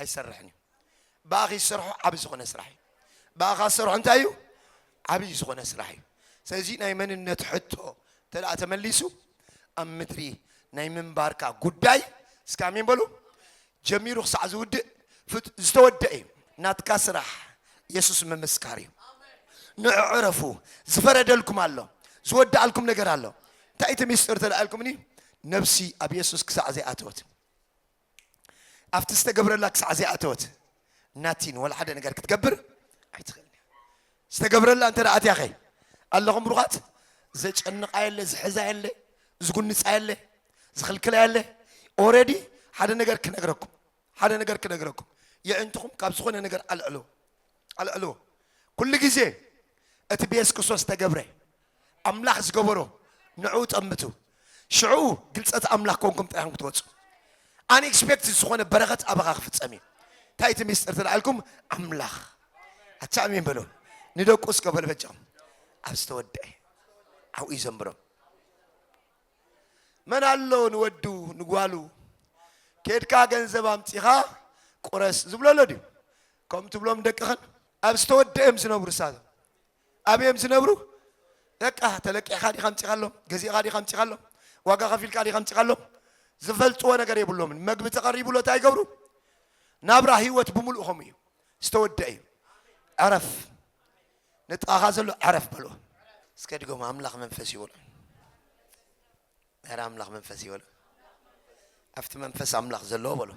ኣይሰርሕን እዩ ብኣኺ ዝሰርሖ ዓብ ዝኾነ ስራሕ እዩ ብኣኻ ዝሰርሖ እንታይ እዩ ዓብይ ዝኾነ ስራሕ እዩ ስለዚ ናይ መንነት ሕቶ ተደኣ ተመሊሱ ኣብ ምድሪ ናይ ምንባርካ ጉዳይ እስከ ኣሜን በሉ ጀሚሩ ክሳዕ ዝውድእ ዝተወደአ እዩ ናትካ ስራሕ የሱስ ምምስካር እዩ ንዑ ዕረፉ ዝፈረደልኩም ኣሎ ዝወዳኣልኩም ነገር ኣሎ እንታይ እቲ ሚስጢር ተደኣልኩምኒ ነብሲ ኣብ የሱስ ክሳዕ ዘይኣተወት ኣብቲ ዝተገብረላ ክሳዕ ዘይኣተወት ናቲን ወላ ሓደ ነገር ክትገብር ኣይትኽእልን እያ። ዝተገብረላ እንተ ኣትያ ኸ ኣለኹም ብሩኻት ዘጨንቃ የለ ዝሕዛ የለ ዝጉንፃ የለ ዝኽልክላ የለ ኦረዲ ሓደ ነገር ክነግረኩም ሓደ ነገር ክነግረኩም የእንትኹም ካብ ዝኾነ ነገር ኣልዕሎ ኣልዕልዎ ኩሉ ግዜ እቲ ብየሱስ ክርስቶስ ዝተገብረ ኣምላኽ ዝገበሮ ንዕኡ ጠምቱ ሽዑ ግልጸት ኣምላኽ ኮንኩም ጥራሕኩም ክትወጹ ኣን ኤክስፔክትድ ዝኾነ በረኸት ኣባኻ ክፍጸም እዩ እንታይ እቲ ሚስጥር ተላዓልኩም ኣምላኽ ኣቻ ኣሜን በሎ ንደቁ እስከ በሎ በጃም ኣብ ዝተወደአ ዓብኡ ይዘምብሮም መን ኣሎ ንወዱ ንጓሉ ኬድካ ገንዘብ ኣምጺኻ ቁረስ ዝብሎ ኣሎ ድዩ? ከምኡ ትብሎም ደቅኽን? ኣብ ዝተወደኣ እዮም ዝነብሩ ንሳቶም ኣበይ እዮም ዝነብሩ? በቃ ተለቂሕካ ዲኻ ኣምጺኻሎም ገዚእኻ ዲኻ ኣምጺኻሎም ዋጋ ከፊልካ ዲኻ ኣምጺኻሎም ዝፈልጥዎ ነገር የብሎምን። መግቢ ተቐሪቡሎ እንታይ ይገብሩ? ናብራ ህይወት ብምሉእ ከምኡ እዩ ዝተወደኣ እዩ። ዕረፍ ንጥቓኻ ዘሎ ዕረፍ በሎ እስከ ድገሙ ኣምላኽ መንፈስ እዩ በሎ ኧረ ኣምላኽ መንፈስ እዩ በሎ ኣብቲ መንፈስ ኣምላኽ ዘለዎ በሎ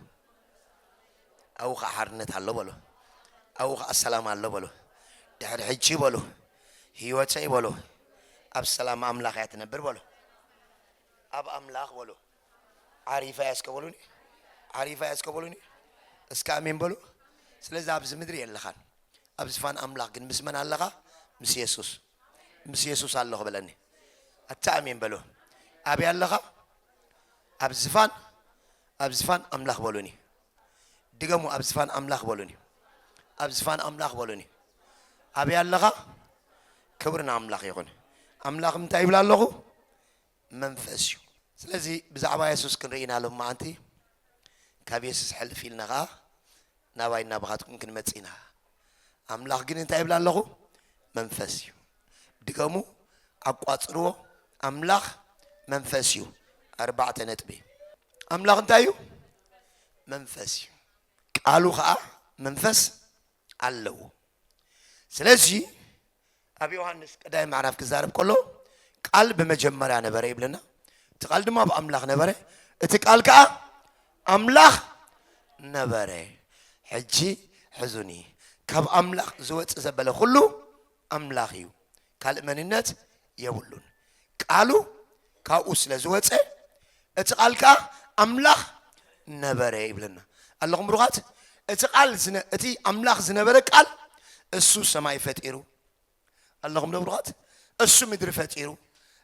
ኣብኡ ከዓ ሓርነት ኣሎ በሎ ኣብኡ ከዓ ሰላም ኣሎ በሎ ድሕሪ ሕጂ በሎ ህይወተይ በሎ ኣብ ሰላም ኣምላኽ እያ ትነብር በሎ ኣብ ኣምላኽ በሉ ዓሪፈ እያ እስከ በሉኒ ዓሪፈ እያ እስከ በሉኒ እስከ ኣሜን በሉ ስለዚ ኣብዚ ምድሪ የለኻን ኣብ ዝፋን ኣምላኽ ግን ምስ መን ኣለኻ ምስ የሱስ ምስ የሱስ ኣለኹ በለኒ ኣታ ኣሜን በሉ ኣበይ ኣለኻ ኣብ ዝፋን ኣብ ዝፋን ኣምላኽ በሉኒ ድገሙ ኣብ ዝፋን ኣምላኽ በሉኒ ኣብ ዝፋን ኣምላኽ በሉኒ ኣበይ ኣለኻ ክብሪ ንኣምላኽ ይኹን ኣምላኽ እንታይ ይብላ ኣለኹ መንፈስ እዩ። ስለዚ ብዛዕባ የሱስ ክንርኢ ኢና ሎምዓንቲ። ካብ የሱስ ሕልፍ ኢልና ከኣ ናባይን ናባኻትኩምን ክንመጽእ ኢና። ኣምላኽ ግን እንታይ ይብል ኣለኹ? መንፈስ እዩ። ድገሙ፣ ኣቋጽርዎ፣ ኣምላኽ መንፈስ እዩ። ኣርባዕተ ነጥቢ። ኣምላኽ እንታይ እዩ? መንፈስ እዩ። ቃሉ ከኣ መንፈስ ኣለዎ ስለዚ ኣብ ዮሃንስ ቀዳይ ምዕራፍ ክዛረብ ከሎ ቃል ብመጀመርያ ነበረ ይብለና እቲ ቃል ድማ ኣብ ኣምላኽ ነበረ እቲ ቃል ከዓ ኣምላኽ ነበረ ሕጂ ሕዙኒ ካብ ኣምላኽ ዝወፅእ ዘበለ ኩሉ ኣምላኽ እዩ ካልእ መንነት የብሉን ቃሉ ካብኡ ስለ ዝወጸ እቲ ቃል ከኣ ኣምላኽ ነበረ ይብለና ኣለኹም ብሩኻት እቲ ቃል እቲ ኣምላኽ ዝነበረ ቃል እሱ ሰማይ ፈጢሩ ኣለኹም ዶ ብሩኻት እሱ ምድሪ ፈጢሩ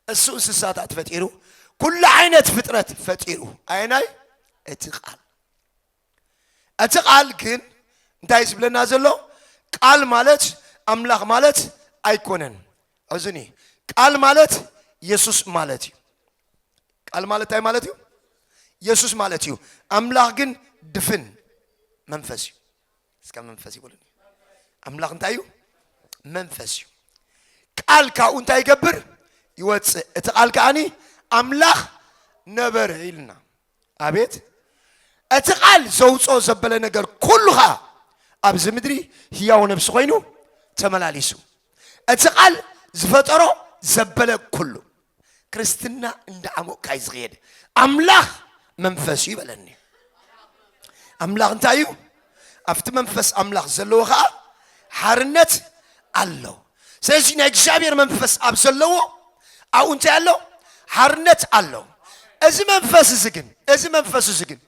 እሱ እንስሳታት ፈጢሩ ኩሉ ዓይነት ፍጥረት ፈጢሩ ኣየናይ እቲ ቃል እቲ ቃል ግን እንታይ ዝብለና ዘሎ ቃል ማለት ኣምላኽ ማለት ኣይኮነን ሕዙኒ ቃል ማለት የሱስ ማለት እዩ ቃል ማለት እንታይ ማለት እዩ የሱስ ማለት እዩ ኣምላኽ ግን ድፍን መንፈስ እዩ እስከ መንፈስ ይበሉኒ ኣምላኽ እንታይ እዩ መንፈስ እዩ ቃል ካብኡ እንታይ ይገብር ይወፅእ እቲ ቃል ከዓኒ ኣምላኽ ነበረ ኢልና ኣቤት እቲ ቃል ዘውጾ ዘበለ ነገር ኩሉ ኸኣ ኣብዚ ምድሪ ህያው ነብሲ ኮይኑ ተመላሊሱ እቲ ቃል ዝፈጠሮ ዘበለ ኩሉ ክርስትና እንዳዓሞቕካ እዩ ዝኽየድ ኣምላኽ መንፈስ እዩ በለኒ ኣምላኽ እንታይ እዩ ኣብቲ መንፈስ ኣምላኽ ዘለዎ ኸኣ ሓርነት ኣሎ ስለዚ ናይ እግዚኣብሔር መንፈስ ኣብ ዘለዎ ኣብኡ እንታይ ኣሎ ሓርነት ኣሎ እዚ መንፈስ እዚ ግን እዚ መንፈስ እዚ ግን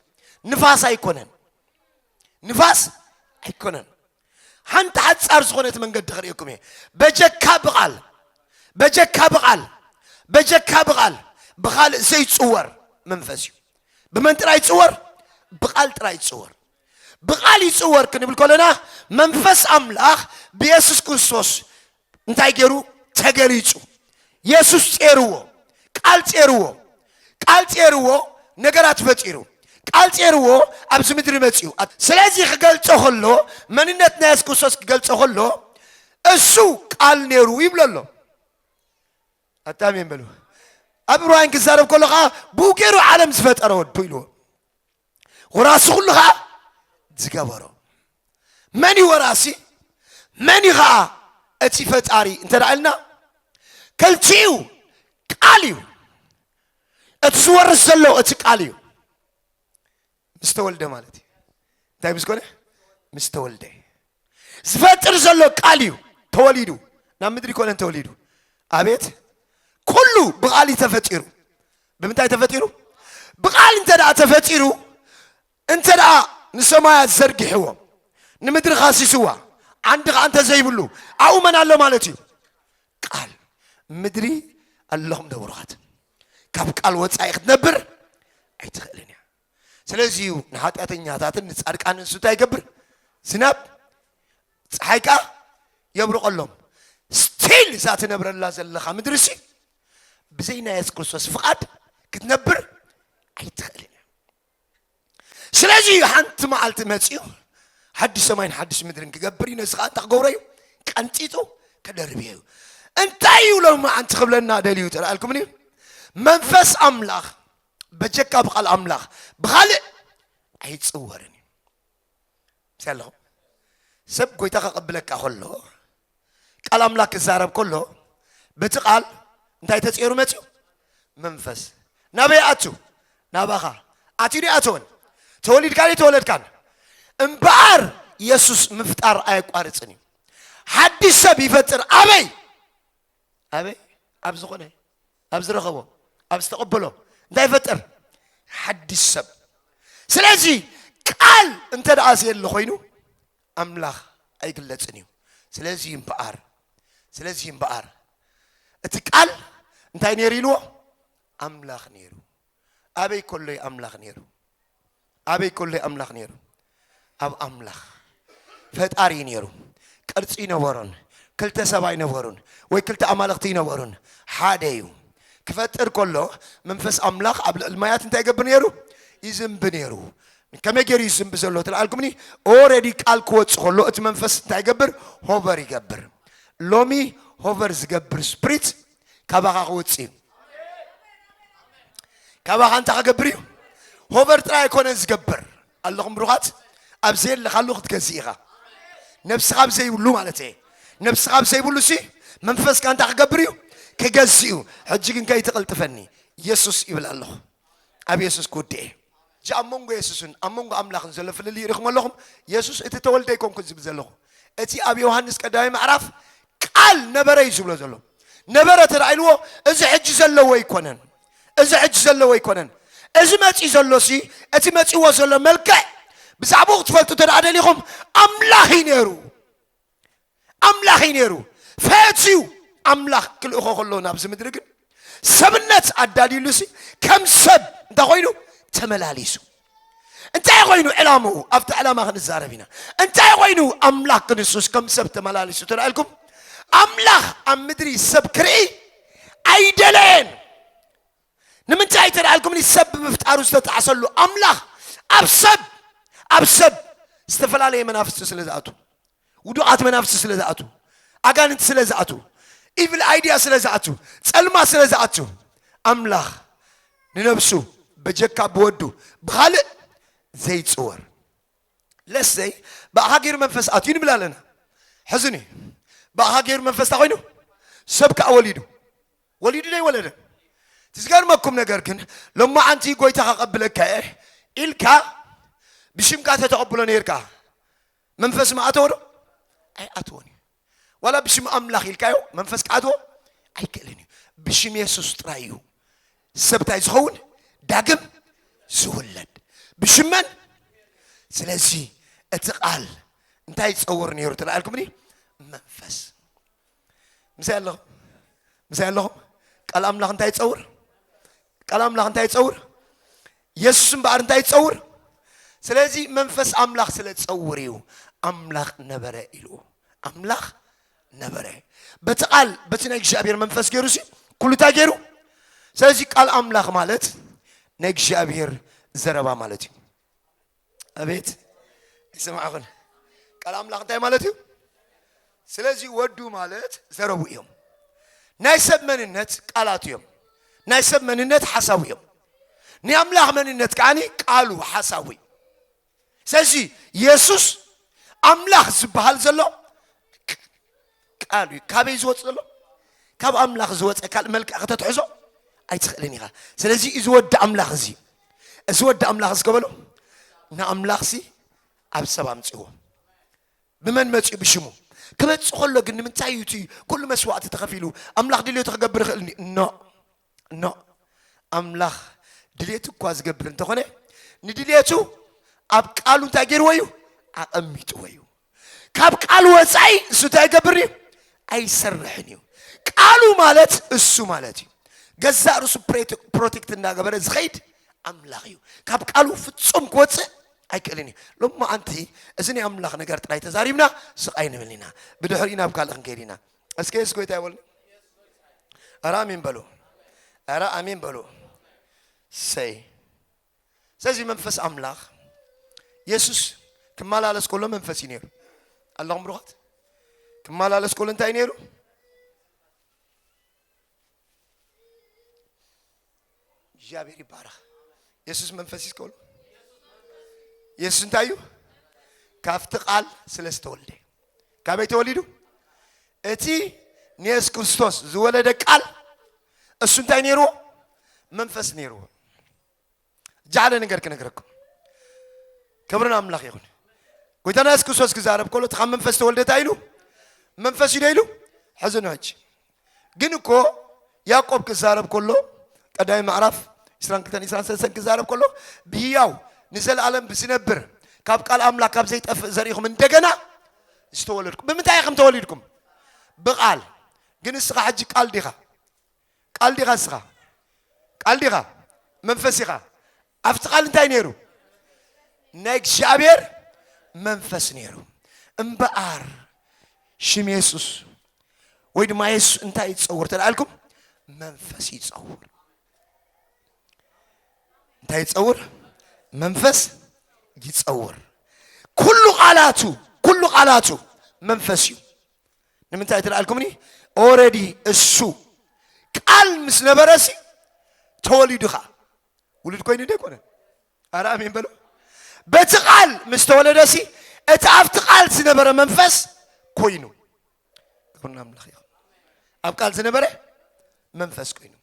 ንፋስ ኣይኮነን ንፋስ ኣይኮነን ሓንቲ ሓፃር ዝኾነት መንገዲ ክርእየኩም እየ በጀካ ብቓል በጀካ ብቓል በጀካ ብቓል ብኻልእ ዘይፅወር መንፈስ እዩ ብመን ጥራይ ይፅወር ብቓል ጥራይ ይፅወር ብቃል ይጽወር ክንብል ከሎና መንፈስ ኣምላኽ ብየሱስ ክርስቶስ እንታይ ገይሩ ተገሊጹ የሱስ ጼርዎ ቃል ጼርዎ ቃል ጼርዎ ነገራት ፈጢሩ ቃል ጼርዎ ኣብዚ ምድሪ መጺኡ ስለዚ ክገልጾ ከሎ መንነት ናይ የሱስ ክርስቶስ ክገልጾ ከሎ እሱ ቃል ነይሩ ይብሎ ኣሎ ኣታ ኣሜን በሉ። ኣብ ዕብራውያን ክዛረብ ከሎ ከዓ ብኡ ገይሩ ዓለም ዝፈጠረ ወዱ ኢልዎ ወራሲ ኩሉ ከዓ ዝገበሮ መን እዩ ወራሲ መን እዩ ከዓ እቲ ፈጣሪ እንተ ኢልና ከልቲኡ ቃል እዩ እቲ ዝወርስ ዘሎ እቲ ቃል እዩ ምስ ተወልደ ማለት እዩ እንታይ ምስ ኮነ ምስ ተወልደ ዝፈጥር ዘሎ ቃል እዩ ተወሊዱ ናብ ምድሪ ኮነ ተወሊዱ ኣቤት ኩሉ ብቃል እዩ ተፈጢሩ ብምንታይ ተፈጢሩ ብቃል እንተ ደኣ ተፈጢሩ እንተ ደኣ ንሰማያት ዘርጊሕዎ ንምድሪ ካሲስዋ ዓንዲ ከዓ እንተ ዘይብሉ ኣብኡ መን ኣሎ ማለት እዩ ቃል ምድሪ ኣለኹም ደብሮኻት ካብ ቃል ወፃኢ ክትነብር ኣይትኽእልን እያ ስለዚ እዩ ንሓጢኣተኛታትን ንፃድቃን ንሱ እንታይ ይገብር ዝናብ ፀሓይ ከዓ የብርቐሎም ስቲል እዛ ትነብረላ ዘለኻ ምድሪ ሲ ብዘይ ናይ የሱስ ክርስቶስ ፍቓድ ክትነብር ኣይትኽእልን እያ ስለዚ እዩ ሓንቲ መዓልቲ መፅኡ ሓድሽ ሰማይን ሓድሽ ምድርን ክገብር እዩ ነዚ ከዓ እንታ ክገብሮ እዩ ቀንጢጡ ክደርብ እዩ እንታይ እዩ ሎም መዓንቲ ክብለና ደልዩ ተላኣልኩምን እዩ መንፈስ ኣምላኽ በጀካ ብቃል ኣምላኽ ብካልእ ኣይፅወርን እዩ ምስ ኣለኹም ሰብ ጎይታ ከቐብለካ ከሎ ቃል ኣምላክ ክዛረብ ከሎ በቲ ቃል እንታይ ተፀይሩ መፅኡ መንፈስ ናበይ ኣቱ ናባኻ ኣትዩ ኣይኣተወን ተወሊድካን የተወለድካን እምበኣር የሱስ ምፍጣር ኣየቋርፅን እዩ ሓድሽ ሰብ ይፈጥር ኣበይ ኣበይ ኣብ ዝኾነ ኣብ ዝረኸቦ ኣብ ዝተቐበሎ እንታይ ይፈጥር ሓድሽ ሰብ ስለዚ ቃል እንተ ደኣ ዘየለ ኮይኑ ኣምላኽ ኣይግለጽን እዩ። ስለዚ እምበኣር፣ ስለዚ እምበኣር፣ እቲ ቃል እንታይ ነይሩ ኢልዎ? ኣምላኽ ነይሩ። ኣበይ ከሎ እዩ ኣምላኽ ነይሩ? ኣበይ ከሎ እዩ ኣምላኽ ነይሩ? ኣብ ኣምላኽ ፈጣሪ እዩ ነይሩ። ቅርጺ ይነበሮን ክልተ ሰብ ኣይነበሩን ወይ ክልተ ኣማልኽቲ ይነበሩን ሓደ እዩ። ክፈጥር ከሎ መንፈስ ኣምላኽ ኣብ ልዕሊ ማያት እንታይ ይገብር ነይሩ? ይዝንቢ ነይሩ። ከመይ ገይሩ እዩ ዝዝንቢ ዘሎ ተልኣልኩምኒ ኦረዲ ቃል ክወፅ ከሎ እቲ መንፈስ እንታይ ይገብር ሆቨር ይገብር ሎሚ ሆቨር ዝገብር ስፕሪት ካባኻ ክወፅ እዩ ካባኻ እንታይ ክገብር እዩ ሆቨር ጥራይ ኣይኮነን ዝገብር ኣለኹም ብሩኻት ኣብ ዘየለኻሉ ክትገዝእ ኢኻ ነብስኻ ኣብ ዘይብሉ ማለት እየ ነብስኻ ኣብ ዘይብሉ ሲ መንፈስካ እንታይ ክገብር እዩ ክገዝእ እዩ ሕጂ ግን ከይትቕልጥፈኒ ኢየሱስ ይብል ኣለኹ ኣብ የሱስ ክውድእ'የ። እዚ ኣብ መንጎ የሱስን ኣብ መንጎ ኣምላኽን ዘሎ ፍልልይ ርኢኹሞ ኣለኹም? የሱስ እቲ እተወልደ ኣይኮንኩን ዝብል ዘለኹ። እቲ ኣብ ዮሃንስ ቀዳማይ ምዕራፍ ቃል ነበረ እዩ ዝብሎ ዘሎ። ነበረ ተራኢልዎ እዚ ሕጂ ዘለዎ ኣይኮነን። እዚ ሕጂ ዘለዎ ኣይኮነን። እዚ መጺኡ ዘሎሲ እቲ መጺእዎ ዘሎ መልክዕ ብዛዕባኡ ክትፈልጡ እንተ ደኣ ደሊኹም ኣምላኽ እዩ ነይሩ። ኣምላኽ እዩ ነይሩ። ፈትዩ ኣምላኽ ክልእኾ ከሎ ናብዚ ምድሪ ግን ሰብነት ኣዳልዩሉሲ ከም ሰብ እንታይ ኮይኑ ተመላሊሱ። እንታይ ኮይኑ ዕላምኡ ኣብቲ ዕላማ ክንዛረብ ኢና። እንታይ ኮይኑ ኣምላኽ ክንሱስ ከም ሰብ ተመላሊሱ ተላኢልኩም ኣምላኽ ኣብ ምድሪ ሰብ ክርኢ ኣይደለየን። ንምንታይ ተደኣልኩምኒ ሰብ ብምፍጣሩ ዝተጣዕሰሉ ኣምላኽ ኣብ ሰብ ኣብ ሰብ ዝተፈላለየ መናፍስቲ ስለ ዝኣቱ ውዱቓት መናፍስቲ ስለ ዝኣቱ ኣጋንንቲ ስለ ዝኣቱ ኢቪል ኣይድያ ስለ ዝኣቱ ጸልማ ስለ ዝኣቱ ኣምላኽ ንነብሱ በጀካ ብወዱ ብኻልእ ዘይፅወር ለሰይ ብኣኻ ገይሩ መንፈስ ኣትዩ ንብል ኣለና ሕዝኒ ብኣኻ ገይሩ መንፈስ እንታይ ኮይኑ ሰብ ከዓ ወሊዱ ወሊዱ ደይወለደን እቲ ዝገርመኩም ነገር ግን ሎማዓንቲ ጎይታ ከቀብለካ እየ ኢልካ ብሽምካ ተተቀብሎ ነይርካ መንፈስ ምኣተወ ዶ ኣይኣተወን እዩ ዋላ ብሽም ኣምላኽ ኢልካዮ መንፈስ ክኣትዎ ኣይክእልን እዩ ብሽም የሱስ ጥራይ እዩ ሰብታይ ዝኸውን ዳግም ዝውለድ ብሽመን ስለዚ እቲ ቃል እንታይ ይፀውር ነይሩ ተላኣልኩምኒ መንፈስ ምሳይ ኣለኹም ምሳይ ኣለኹም ቃል ኣምላኽ እንታይ ይፀውር ቃል ኣምላኽ እንታይ ይፀውር የሱስ እምበኣር እንታይ ይፀውር ስለዚ መንፈስ ኣምላኽ ስለ ዝፀውር እዩ ኣምላኽ ነበረ ኢልዎ ኣምላኽ ነበረ በቲ ቃል በቲ ናይ እግዚኣብሔር መንፈስ ገይሩ ሲ ኩሉ እንታይ ገይሩ ስለዚ ቃል ኣምላኽ ማለት ናይ እግዚኣብሔር ዘረባ ማለት እዩ ኣቤት ይስማዕኹን ቃል ኣምላኽ እንታይ ማለት እዩ ስለዚ ወዱ ማለት ዘረቡ እዮም ናይ ሰብ መንነት ቃላት እዮም ናይ ሰብ መንነት ሓሳቡ እዮም ናይ ኣምላኽ መንነት ከዓኒ ቃሉ ሓሳቡ እዩ ስለዚ የሱስ ኣምላኽ ዝበሃል ዘሎ ቃል እዩ ካበይ ዝወፅ ዘሎ ካብ ኣምላኽ ዝወፀ ካልእ መልክዕ ከተትሕዞ ኣይትኽእልን ኢኻ ስለዚ እዚ ወዲ ኣምላኽ እዚ እዚ ወዲ ኣምላኽ እዚ ከበሎ ንኣምላኽ ሲ ኣብ ሰብ ኣምፅዎ ብመን መፅኡ ብሽሙ ክመፅእ ከሎ ግን ንምንታይ እዩ እቲ ኩሉ መስዋእቲ ተኸፊሉ ኣምላኽ ድልዮቱ ክገብር ይኽእል ኖ ኖ ኣምላኽ ድልየቱ እኳ ዝገብር እንተኾነ ንድልየቱ ኣብ ቃሉ እንታይ ገይርዎ እዩ ኣቐሚጥዎ እዩ ካብ ቃሉ ወፃኢ እሱ እንታይ ይገብር እዩ ኣይሰርሕን እዩ ቃሉ ማለት እሱ ማለት እዩ ገዛእ ርእሱ ፕሮቴክት እንዳገበረ ዝኸይድ ኣምላኽ እዩ ካብ ቃሉ ፍጹም ክወፅእ ኣይክእልን እዩ ሎማ ኣንቲ እዚ ናይ ኣምላኽ ነገር ጥራይ ተዛሪብና ስቃይ ንብል ኢና ብድሕሪ ናብ ካልእ ክንከይድ ኢና እስከ የሱስ ጎይታ ይበሉ ኧረ ኣሜን በሉ ኧረ ኣሜን በሉ ሰይ ስለዚ መንፈስ ኣምላኽ የሱስ ክመላለስ ከሎ መንፈስ እዩ ነይሩ ኣለኹም ብሩኻት ክመላለስ ከሎ እንታይ ነይሩ እግዚኣብሔር ይባረኽ የሱስ መንፈስ እዩ ከሎ የሱስ እንታይ እዩ ካብቲ ቃል ስለ ዝተወልደ ካበይ ተወሊዱ እቲ ንየሱስ ክርስቶስ ዝወለደ ቃል እሱ እንታይ ነይርዎ መንፈስ ነይርዎ እጃ ሓደ ነገር ክነግረኩም ክብርን ኣምላኽ ይኹን ጎይታና የሱስ ክርስቶስ ክዛረብ ከሎ እቲ ካብ መንፈስ ተወልደታ ኢሉ መንፈስ እዩ ዶ ኢሉ ሕዚ ነው ሕጂ ግን እኮ ያዕቆብ ክዛረብ ከሎ ቀዳሚ ምዕራፍ 22 23 ክዛረብ ከሎ ብህያው ንዘለኣለም ብዝነብር ካብ ቃል ኣምላክ ካብ ዘይጠፍእ ዘሪኢኹም እንደገና ዝተወለድኩም ብምንታይ ኢኹም ተወሊድኩም ብቃል ግን እስኻ ሕጂ ቃል ዲኻ ቃል ዲኻ እስኻ ቃል ዲኻ መንፈስ ኢኻ ኣብቲ ቃል እንታይ ነይሩ ናይ እግዚኣብሔር መንፈስ ነይሩ እምበኣር ሽም የሱስ ወይ ድማ የሱስ እንታይ ይፀውር ተላኣልኩም መንፈስ ይፀውር እንታይ ይፀውር መንፈስ ይፀውር ኩሉ ቃላቱ ኩሉ ቃላቱ መንፈስ እዩ ንምንታይ ትልኣልኩምኒ ኦረዲ እሱ ቃል ምስ ነበረሲ ተወሊዱ ኸዓ ውሉድ ኮይኑ ዶ ኣይኮነን ኣረ ኣሜን በሎ በቲ ቃል ምስ ተወለደሲ እቲ ኣብቲ ቃል ዝነበረ መንፈስ ኮይኑ ክብርና ኣምላኽ ይኹን ኣብ ቃል ዝነበረ መንፈስ ኮይኑ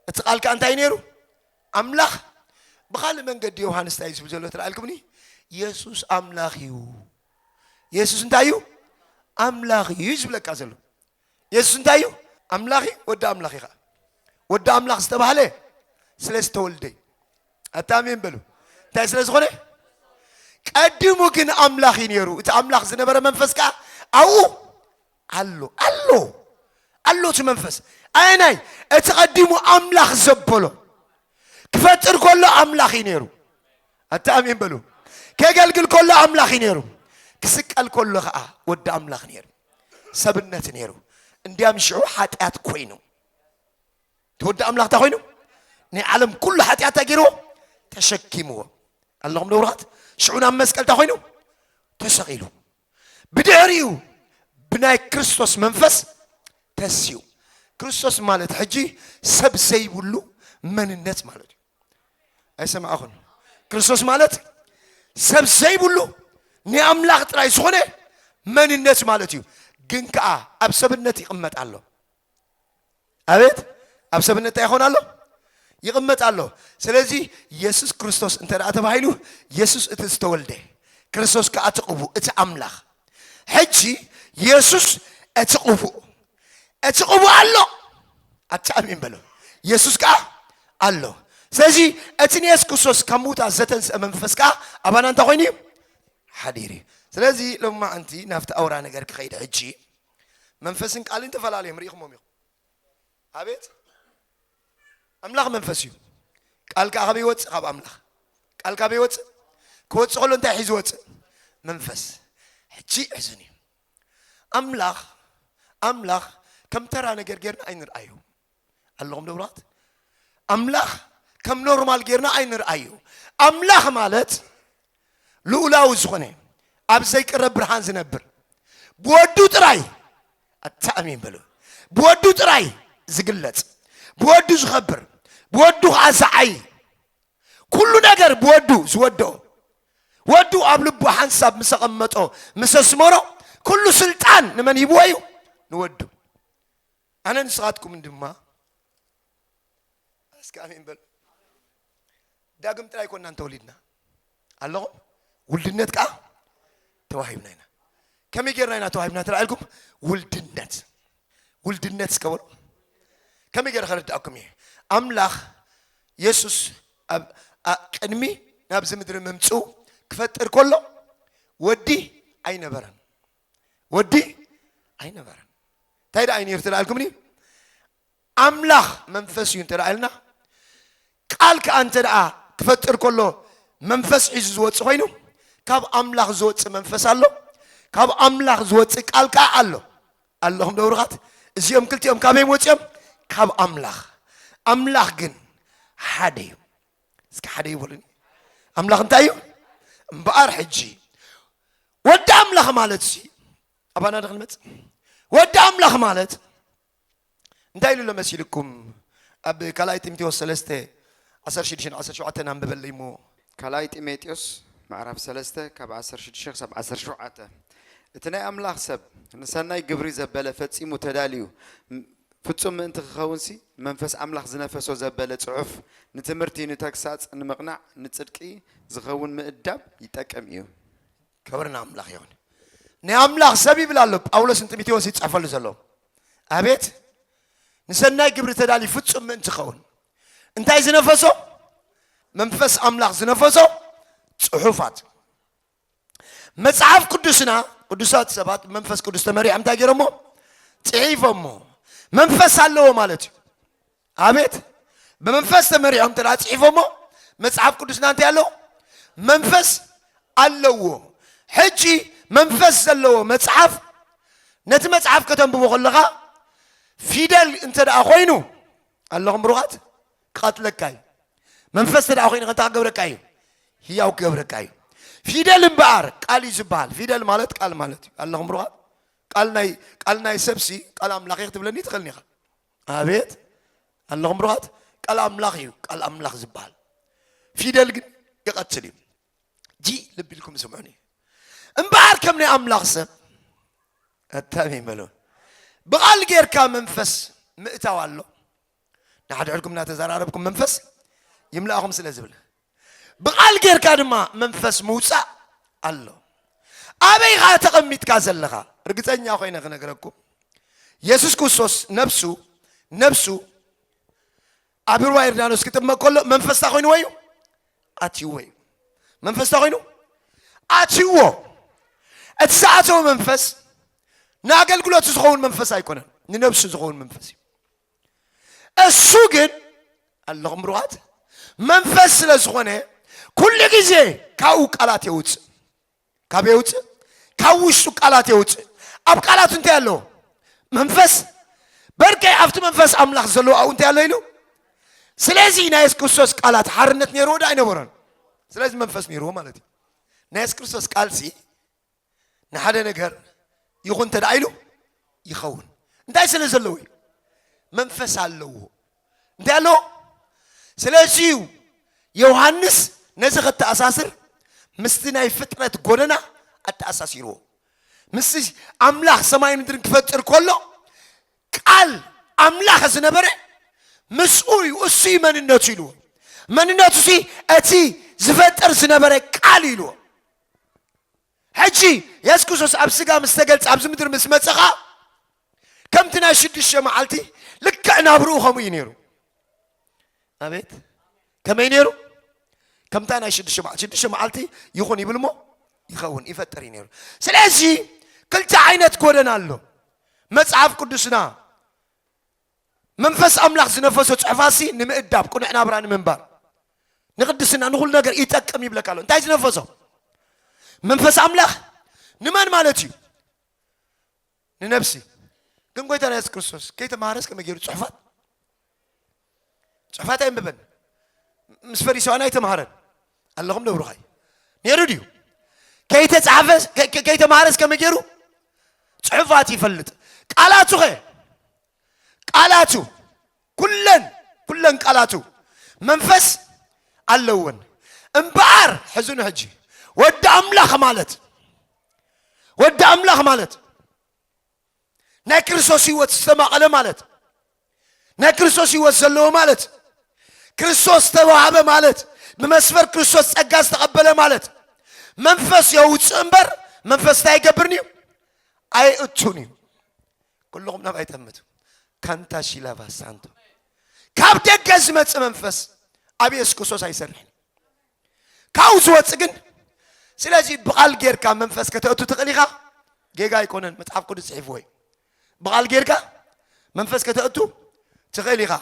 እቲ ቃል ከዓ እንታይ ነይሩ ኣምላኽ ብካልእ መንገዲ ዮሃንስ እንታይ ዝብል ዘሎ ትረኣልኩምኒ የሱስ ኣምላኽ እዩ የሱስ እንታይ እዩ ኣምላኽ እዩ ዝብለካ ዘሎ የሱስ እንታይ እዩ ኣምላኽ እዩ ወዲ ኣምላኽ እዩ ከዓ ወዲ ኣምላኽ ዝተባህለ ስለ ዝተወልደ እዩ ኣታሜን በሉ እንታይ ስለ ዝኾነ ቀዲሙ ግን ኣምላኽ እዩ ነይሩ እቲ ኣምላኽ ዝነበረ መንፈስ ከዓ ኣብኡ ኣሎ ኣሎ ኣሎ እቲ መንፈስ ኣየናይ እቲ ቀዲሙ ኣምላኽ ዘበሎ ክፈጥር ከሎ ኣምላኽ እዩ ነይሩ ኣታ ኣሜን በሉ ከገልግል ከሎ ኣምላኽ እዩ ነይሩ ክስቀል ከሎ ከዓ ወዲ ኣምላኽ ነይሩ ሰብነት ነይሩ እንዲያም ሽዑ ሓጢኣት ኮይኑ እቲ ወዲ ኣምላኽ እንታይ ኮይኑ ናይ ዓለም ኩሉ ሓጢኣት እንታይ ገይርዎ ተሸኪምዎ ኣለኹም ደብራት ሽዑ ናብ መስቀል እንታይ ኮይኑ ተሰቂሉ ብድሕሪኡ ብናይ ክርስቶስ መንፈስ ተስኡ። ክርስቶስ ማለት ሕጂ ሰብ ዘይብሉ መንነት ማለት እዩ። ኣይሰማዕኹን? ክርስቶስ ማለት ሰብ ዘይብሉ ንኣምላኽ ጥራይ ዝኾነ መንነት ማለት እዩ። ግን ከዓ ኣብ ሰብነት ይቕመጥ ኣሎ። ኣቤት ኣብ ሰብነት እንታይ ይኾን ኣሎ ይቕመጥ ኣሎ ስለዚ የሱስ ክርስቶስ እንተ ደኣ ተባሂሉ የሱስ እቲ ዝተወልደ ክርስቶስ ከዓ እቲ ቅቡእ እቲ ኣምላኽ ሕጂ የሱስ እቲ ቅቡእ እቲ ቅቡእ ኣሎ ኣቲ ኣሚን በሎ የሱስ ከዓ ኣሎ ስለዚ እቲ ንየሱስ ክርስቶስ ካብ ምውታት ዘተንስአ መንፈስ ከዓ ኣባና እንታይ ኮይኑ እዩ ሓዲር እዩ ስለዚ ሎማዓንቲ ናብቲ ኣውራ ነገር ክኸይድ ሕጂ መንፈስን ቃልን ተፈላለዮም ርኢኹሞም ኢኹም ኣቤት ኣምላኽ መንፈስ እዩ ቃል ከዓ ካበይ ይወፅእ ካብ ኣምላኽ ቃል ካበይ ይወፅእ ክወፅእ ከሎ እንታይ ሒዙ ወፅእ መንፈስ ሕጂ ሕዝን እዩ ኣምላኽ ኣምላኽ ከም ተራ ነገር ጌርና ኣይንርኣዩ ኣለኹም ንብራት ኣምላኽ ከም ኖርማል ጌርና ኣይንርኣዮ ኣምላኽ ማለት ልኡላዊ ዝኾነ ኣብ ዘይቅረብ ብርሃን ዝነብር ብወዱ ጥራይ ኣተኣሚን በሉ ብወዱ ጥራይ ዝግለጽ ብወዱ ዝኸብር ብወዱ ከዓ ዝዓይ ኩሉ ነገር ብወዱ ዝወድኦ ወዱ ኣብ ልቡ ሓንሳብ ምስ ኣቐመጦ ምስ ኣስመሮ ኩሉ ስልጣን ንመን ሂብዎ እዩ ንወዱ ኣነ ንስኻትኩምን ድማ እስኪ ኣሜን በሉ። ዳግም ጥራይ ኮና እንተወሊድና ኣለኹም ውልድነት ከዓ ተዋሂብና ኢና። ከመይ ጌርና ኢና ተዋሂብና ተላዒልኩም ውልድነት ውልድነት እስከ በሉ ከመይ ጌረ ከረድኣኩም እየ ኣምላኽ የሱስ ኣብ ቅድሚ ናብዚ ምድሪ ምምፅኡ ክፈጥር ከሎ ወዲ ኣይነበረን ወዲ ኣይነበረን እንታይ ደኣ ነይሩ ተደኣልኩምኒ ኣምላኽ መንፈስ እዩ እንተ ኢልና ቃል ከዓ እንተ ደኣ ክፈጥር ከሎ መንፈስ ሒዙ ዝወፅ ኮይኑ ካብ ኣምላኽ ዝወፅ መንፈስ ኣሎ ካብ ኣምላኽ ዝወፅ ቃል ከዓ ኣሎ ኣለኹም ደብሩኻት እዚኦም ክልቲኦም ካበይ ወፂኦም ካብ ኣምላኽ ኣምላኽ ግን ሓደ እዩ እስኪ ሓደ ይበሉኒ ኣምላኽ እንታይ እዩ እምበኣር ሕጂ ወዲ ኣምላኽ ማለት ሲ ኣባና ዶ ክንመፅ ወዲ ኣምላኽ ማለት እንታይ ኢሉ ኣሎ መሲልኩም ኣብ ካልኣይ ጢምቴዎስ ሰለስተ ዓሰርተ ሽዱሽተን ዓሰርተ ሸውዓተን ኣንብበለይ እሞ ካልኣይ ጢሞቴዎስ ምዕራፍ ሰለስተ ካብ ዓሰርተ ሽዱሽተ ክሳብ ዓሰርተ ሸውዓተ እቲ ናይ ኣምላኽ ሰብ ንሰናይ ግብሪ ዘበለ ፈጺሙ ተዳልዩ ፍጹም ምእንቲ ኪኸውንሲ፣ መንፈስ ኣምላኽ ዝነፈሶ ዘበለ ጽሑፍ፣ ንትምህርቲ፣ ንተግሳጽ፣ ንምቕናዕ፣ ንጽድቂ ዚኸውን ምእዳብ ይጠቅም እዩ። ክብሪ ንኣምላኽ ይኹን። ናይ ኣምላኽ ሰብ ይብል ኣሎ ጳውሎስ ንጢሞቴዎስ ይጽሕፈሉ ዘሎ። ኣቤት ንሰናይ ግብሪ ተዳልዩ ፍጹም ምእንቲ ኸውን እንታይ ዝነፈሶ? መንፈስ ኣምላኽ ዝነፈሶ ጽሑፋት መጽሓፍ ቅዱስና ቅዱሳት ሰባት መንፈስ ቅዱስ ተመሪሖም እንታይ ገይሮሞ ጽሒፎሞ መንፈስ ኣለዎ ማለት እዩ ኣቤት ብመንፈስ ተመሪሖም ተደኣ ጽሒፎሞ መጽሓፍ ቅዱስና እንታይ ኣለዎ መንፈስ ኣለዎ ሕጂ መንፈስ ዘለዎ መጽሓፍ ነቲ መጽሓፍ ከተንብቦ ከለኻ ፊደል እንተ ደኣ ኮይኑ ኣለኹም ብሩኻት ክቐትለካ እዩ መንፈስ ተደኣ ኮይኑ ከንታ ክገብረካ እዩ ህያው ክገብረካ እዩ ፊደል እምበኣር ቃል እዩ ዝበሃል ፊደል ማለት ቃል ማለት እዩ ኣለኹም ብሩኻት ቃል ናይ ቃል ናይ ሰብሲ ቃል ኣምላኽ እዩ ክትብለኒ ትኽእልኒ ኢኻ ኣቤት ኣለኹም ብሩኻት ቃል ኣምላኽ እዩ ቃል ኣምላኽ ዝበሃል ፊደል ግን ይቐትል እዩ ጂ ልቢ ኢልኩም ስምዑኒ እምበኣር ከም ናይ ኣምላኽ ሰብ ኣታሚ ይመለውን ብቓል ጌርካ መንፈስ ምእታው ኣሎ ንሓድሕድኩም እናተዘራረብኩም መንፈስ ይምላእኹም ስለ ዝብል ብቓል ጌርካ ድማ መንፈስ ምውፃእ ኣሎ ኣበይ ኸዓ ተቐሚጥካ ዘለኻ ርግፀኛ ኮይነ ክነግረኩም የሱስ ክርስቶስ ነብሱ ነብሱ ኣብ ሩባ ዮርዳኖስ ክጥመቅ ከሎ መንፈስ እንታይ ኮይንዎ እዩ ኣትይዎ እዩ መንፈስ እንታይ ኮይኑ ኣትይዎ እቲ ዝኣተወ መንፈስ ንኣገልግሎት ዝኸውን መንፈስ ኣይኮነን ንነብሱ ዝኸውን መንፈስ እዩ እሱ ግን ኣለኹም ብሩኻት መንፈስ ስለ ዝኾነ ኩሉ ግዜ ካብኡ ቃላት የውፅእ ካብ የውፅእ ካብ ውሽጡ ቃላት የውፅእ ኣብ ቃላቱ እንታይ ኣለዎ መንፈስ በርከይ ኣብቲ መንፈስ ኣምላኽ ዘለዎ ኣብኡ እንታይ ኣሎ ኢሉ ስለዚ ናይ የሱስ ክርስቶስ ቃላት ሓርነት ነይርዎ ዶ ኣይነበሮን ስለዚ መንፈስ ነይርዎ ማለት እዩ ናይ የሱስ ክርስቶስ ቃልሲ ንሓደ ነገር ይኹን እንተ ኢሉ ይኸውን እንታይ ስለ ዘለዎ እዩ መንፈስ ኣለዎ እንታይ ኣሎ? ስለዚ እዩ ዮሃንስ ነዚ ከተኣሳስር ምስቲ ናይ ፍጥረት ጎደና ኣተኣሳሲርዎ። ምስ ኣምላኽ ሰማይ ምድርን ክፈጥር ከሎ ቃል ኣምላኽ ዝነበረ ምስኡ እዩ፣ እሱ እዩ መንነቱ ኢልዎ። መንነቱ ሲ እቲ ዝፈጥር ዝነበረ ቃል ኢልዎ። ሕጂ የሱስ ክርስቶስ ኣብ ስጋ ምስ ተገልጸ ኣብዚ ምድሪ ምስ መጸ ኸኣ ከምቲ ናይ ሽዱሽተ መዓልቲ ልክዕ ናብርኡ ከምኡ እዩ ነይሩ ኣቤት ከመይ ነይሩ ከምታ ናይ ሽዱሽተ መዓልቲ ሽዱሽተ መዓልቲ ይኹን ይብል እሞ ይኸውን ይፈጥር እዩ ነይሩ ስለዚ ክልተ ዓይነት ጎደና ኣሎ መጽሓፍ ቅዱስና መንፈስ ኣምላኽ ዝነፈሶ ጽሑፋትሲ ንምእዳብ ቅኑዕ ናብራ ንምንባር ንቅድስና ንኹሉ ነገር ይጠቅም ይብለካ ኣሎ እንታይ ዝነፈሶ መንፈስ ኣምላኽ ንመን ማለት እዩ ንነብሲ ግን ጎይታና የሱስ ክርስቶስ ከይተማሃረስ ከመይ ገይሩ ጽሑፋት ጽሑፋት ኣይንብበን ምስ ፈሪሳውያን ኣይተማሃረን ኣለኹም ደብሩኻይ ነይሩ ድዩ ከይተፃሕፈ ከይተማሃረስ ከመይ ገይሩ ፅሑፋት ይፈልጥ ቃላቱ ኸ ቃላቱ ኩለን ኩለን ቃላቱ መንፈስ ኣለወን እምበኣር ሕዝኑ ሕጂ ወዲ ኣምላኽ ማለት ወዲ ኣምላኽ ማለት ናይ ክርስቶስ ህይወት ዝተማቐለ ማለት ናይ ክርስቶስ ህይወት ዘለዎ ማለት ክርስቶስ ዝተዋህበ ማለት ብመስመር ክርስቶስ ጸጋ ዝተቐበለ ማለት መንፈስ የውፅእ እምበር መንፈስ እንታይ ኣይገብርን እዩ ኣይእቱን እዩ ኩልኹም ናብ ኣይጠምቱ ካንታ ሺላቫ ሳንቶ ካብ ደገ ዝመፅእ መንፈስ ኣብ የሱስ ክርስቶስ ኣይሰርሕን ካብኡ ዝወፅ ግን ስለዚ ብቓል ጌርካ መንፈስ ከተእቱ ትኽእል ኢኻ ጌጋ ኣይኮነን መፅሓፍ ቅዱስ ፅሒፍዎ እዩ ብቓል ጌርካ መንፈስ ከተእቱ ትኽእል ኢኻ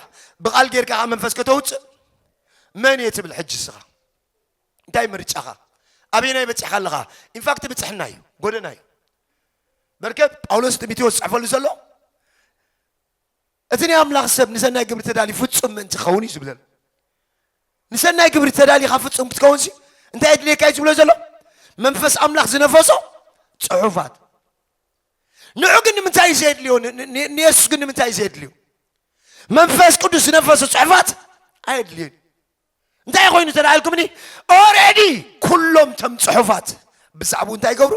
ብቓል ጌርካ ካብ መንፈስ ከተውፅእ መን እየ ትብል ሕጂ ስኻ እንታይ ምርጫኻ ኣበየናይ በፂሕካ ኣለኻ ኢንፋክት ብፅሕና እዩ ጎደና እዩ በርከ ጳውሎስ ጢሞቴዎስ ዝፅሕፈሉ ዘሎ እቲ ናይ ኣምላኽ ሰብ ንሰናይ ግብሪ ተዳልዩ ፍጹም ምእንቲ ክኸውን እዩ ዝብለና። ንሰናይ ግብሪ ተዳሊኻ ፍጹም ክትከውንሲ እንታይ የድልየካ እዩ ዝብሎ ዘሎ? መንፈስ ኣምላኽ ዝነፈሶ ጽሑፋት። ንዑ ግን ንምንታይ እዩ ዘየድልዮ? ንየሱስ ግን ንምንታይ እዩ ዘየድልዮ? መንፈስ ቅዱስ ዝነፈሶ ጽሑፋት ኣየድልዮን። እንታይ ኮይኑ ተላኢልኩምኒ? ኦረዲ ኩሎም ተም ጽሑፋት ብዛዕባኡ እንታይ ይገብሩ?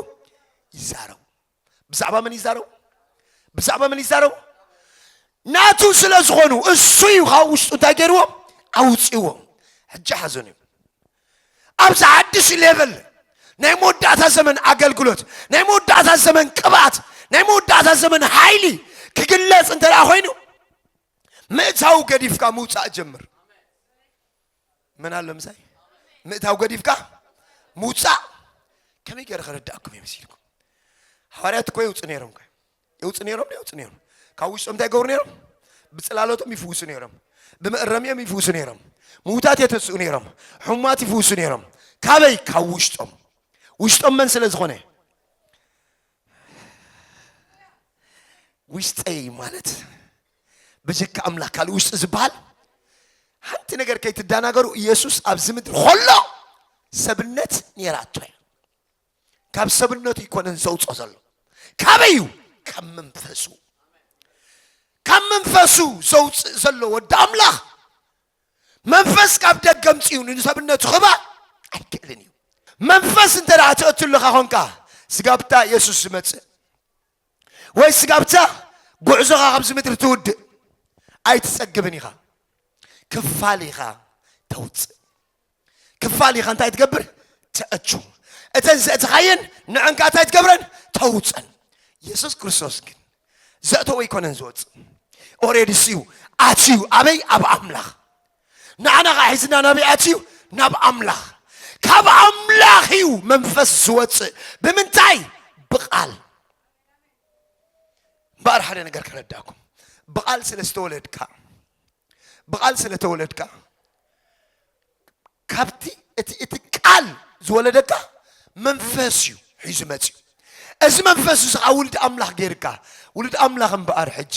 ይዛረቡ። ብዛዕባ መን ይዛረቡ? ብዛዕባ መን ይዛረቡ? ናቱ ስለ ዝኾኑ እሱ እዩ ካብ ውሽጡ እንታይ ገይርዎ ኣውፅዎ ሕጂ ሓዘኑ እዩ ኣብዚ ሓድሽ ሌቨል ናይ መወዳእታ ዘመን ኣገልግሎት ናይ መወዳእታ ዘመን ቅብኣት ናይ መወዳእታ ዘመን ሓይሊ ክግለፅ እንተ ኮይኑ ምእታው ገዲፍካ ምውፃእ ጀምር መን ኣሎ ምሳይ ምእታው ገዲፍካ ምውፃእ ከመይ ገይረ ከረዳእኩም እየ መሲልኩም ሃዋርያት እኮ የውፅ ነይሮም ከ የውፅ ነይሮም የውፅ ነይሮም ካብ ውሽጦም እንታይ ይገብሩ ነይሮም ብፅላሎቶም ይፍውሱ ነይሮም ብመእረሚኦም ይፍውሱ ነይሮም ምውታት የተስኡ ነይሮም ሕሙማት ይፍውሱ ነይሮም ካበይ ካብ ውሽጦም ውሽጦም መን ስለ ዝኾነ ውሽጠይ ማለት ብጀካ ኣምላኽ ካልእ ውሽጢ ዝበሃል ሓንቲ ነገር ከይትደናገሩ ኢየሱስ ኣብዚ ምድሪ ከሎ ሰብነት ነይራቶ እያ ካብ ሰብነቱ ይኮነን ዘውፅኦ ዘሎ ካበይ እዩ ካብ መንፈሱ ካብ መንፈሱ ዘውፅእ ዘሎ ወዲ ኣምላኽ መንፈስ ካብ ደገ ምፅኡ ንሰብነቱ ክባ ኣይክእልን እዩ መንፈስ እንተ ትእትልኻ ኮንካ ስጋብታ የሱስ ዝመፅእ ወይ ስጋብ'ታ ጉዕዞኻ ካብዚ ምድሪ ትውድእ ኣይትጸግብን ኢኻ። ክፋል ኢኻ ተውጽእ። ክፋል ኢኻ እንታይ ትገብር? ተእቱ። እተን ዘእትኻየን ንዐን ከኣ እንታይ ትገብረን? ተውጸን። የሱስ ክርስቶስ ግን ዘእተዎ ኣይኮነን ዝወጽእ። ኦሬዲ ስዩ ኣትዩ ኣበይ? ኣብ ኣምላኽ። ንዓና ኸዓ ሒዝና ናበይ ኣትዩ? ናብ ኣምላኽ። ካብ ኣምላኽ እዩ መንፈስ ዝወፅእ። ብምንታይ? ብቓል። እምበኣር ሓደ ነገር ከረዳእኩም፣ ብቓል ስለ ዝተወለድካ ብቓል ስለ ተወለድካ ካብቲ እቲ እቲ ቃል ዝወለደካ መንፈስ እዩ ሒዙ መፅዩ እዚ መንፈስ እዚ ከዓ ውልድ ኣምላኽ ገይርካ ውልድ ኣምላኽ እምበኣር ሕጂ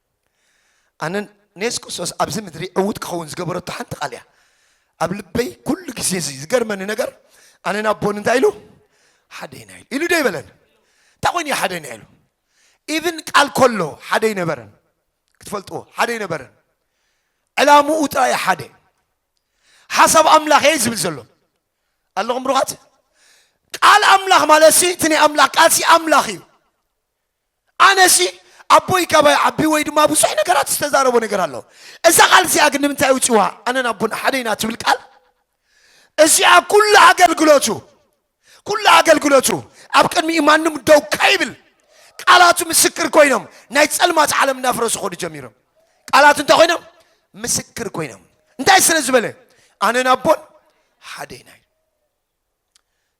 ኣነ ንየሱስ ክርስቶስ ኣብዚ ምድሪ ዕውት ክኸውን ዝገበረቶ ሓንቲ ቃል እያ ኣብ ልበይ ኩሉ ግዜ እዚ ዝገርመኒ ነገር ኣነ ናብ ቦን እንታይ ኢሉ ሓደ ኢና ኢሉ ኢሉ ዶ ይበለን እንታይ ኮይኑ እዩ ሓደ ኢና ኢሉ ኢብን ቃል ከሎ ሓደ ይነበረን ክትፈልጥዎ ሓደ ይነበረን ዕላምኡ ጥራይ ሓደ ሓሳብ ኣምላኽ እየ ዝብል ዘሎ ኣለኹም ብሩኻት ቃል ኣምላኽ ማለት ሲ እቲ ናይ ኣምላኽ ቃል ሲ ኣምላኽ እዩ ኣነሲ ኣቦይ ካባይ ዓቢ ወይ ድማ ብዙሕ ነገራት ዝተዛረቦ ነገር ኣሎ እዛ ቃል እዚኣ ግን ንምንታይ ውጽዋ ኣነን ኣቦን ሓደ ኢና ትብል ቃል እዚኣ ኩሉ ኣገልግሎቱ ኩሉ ኣገልግሎቱ ኣብ ቅድሚኡ ማንም ደው ከይብል ቃላቱ ምስክር ኮይኖም ናይ ጸልማት ዓለም እናፍረሱ ኾዱ ጀሚሮም ቃላቱ እንታይ ኮይኖም ምስክር ኮይኖም እንታይ ስለ ዝበለ ኣነን ኣቦን ሓደ ኢና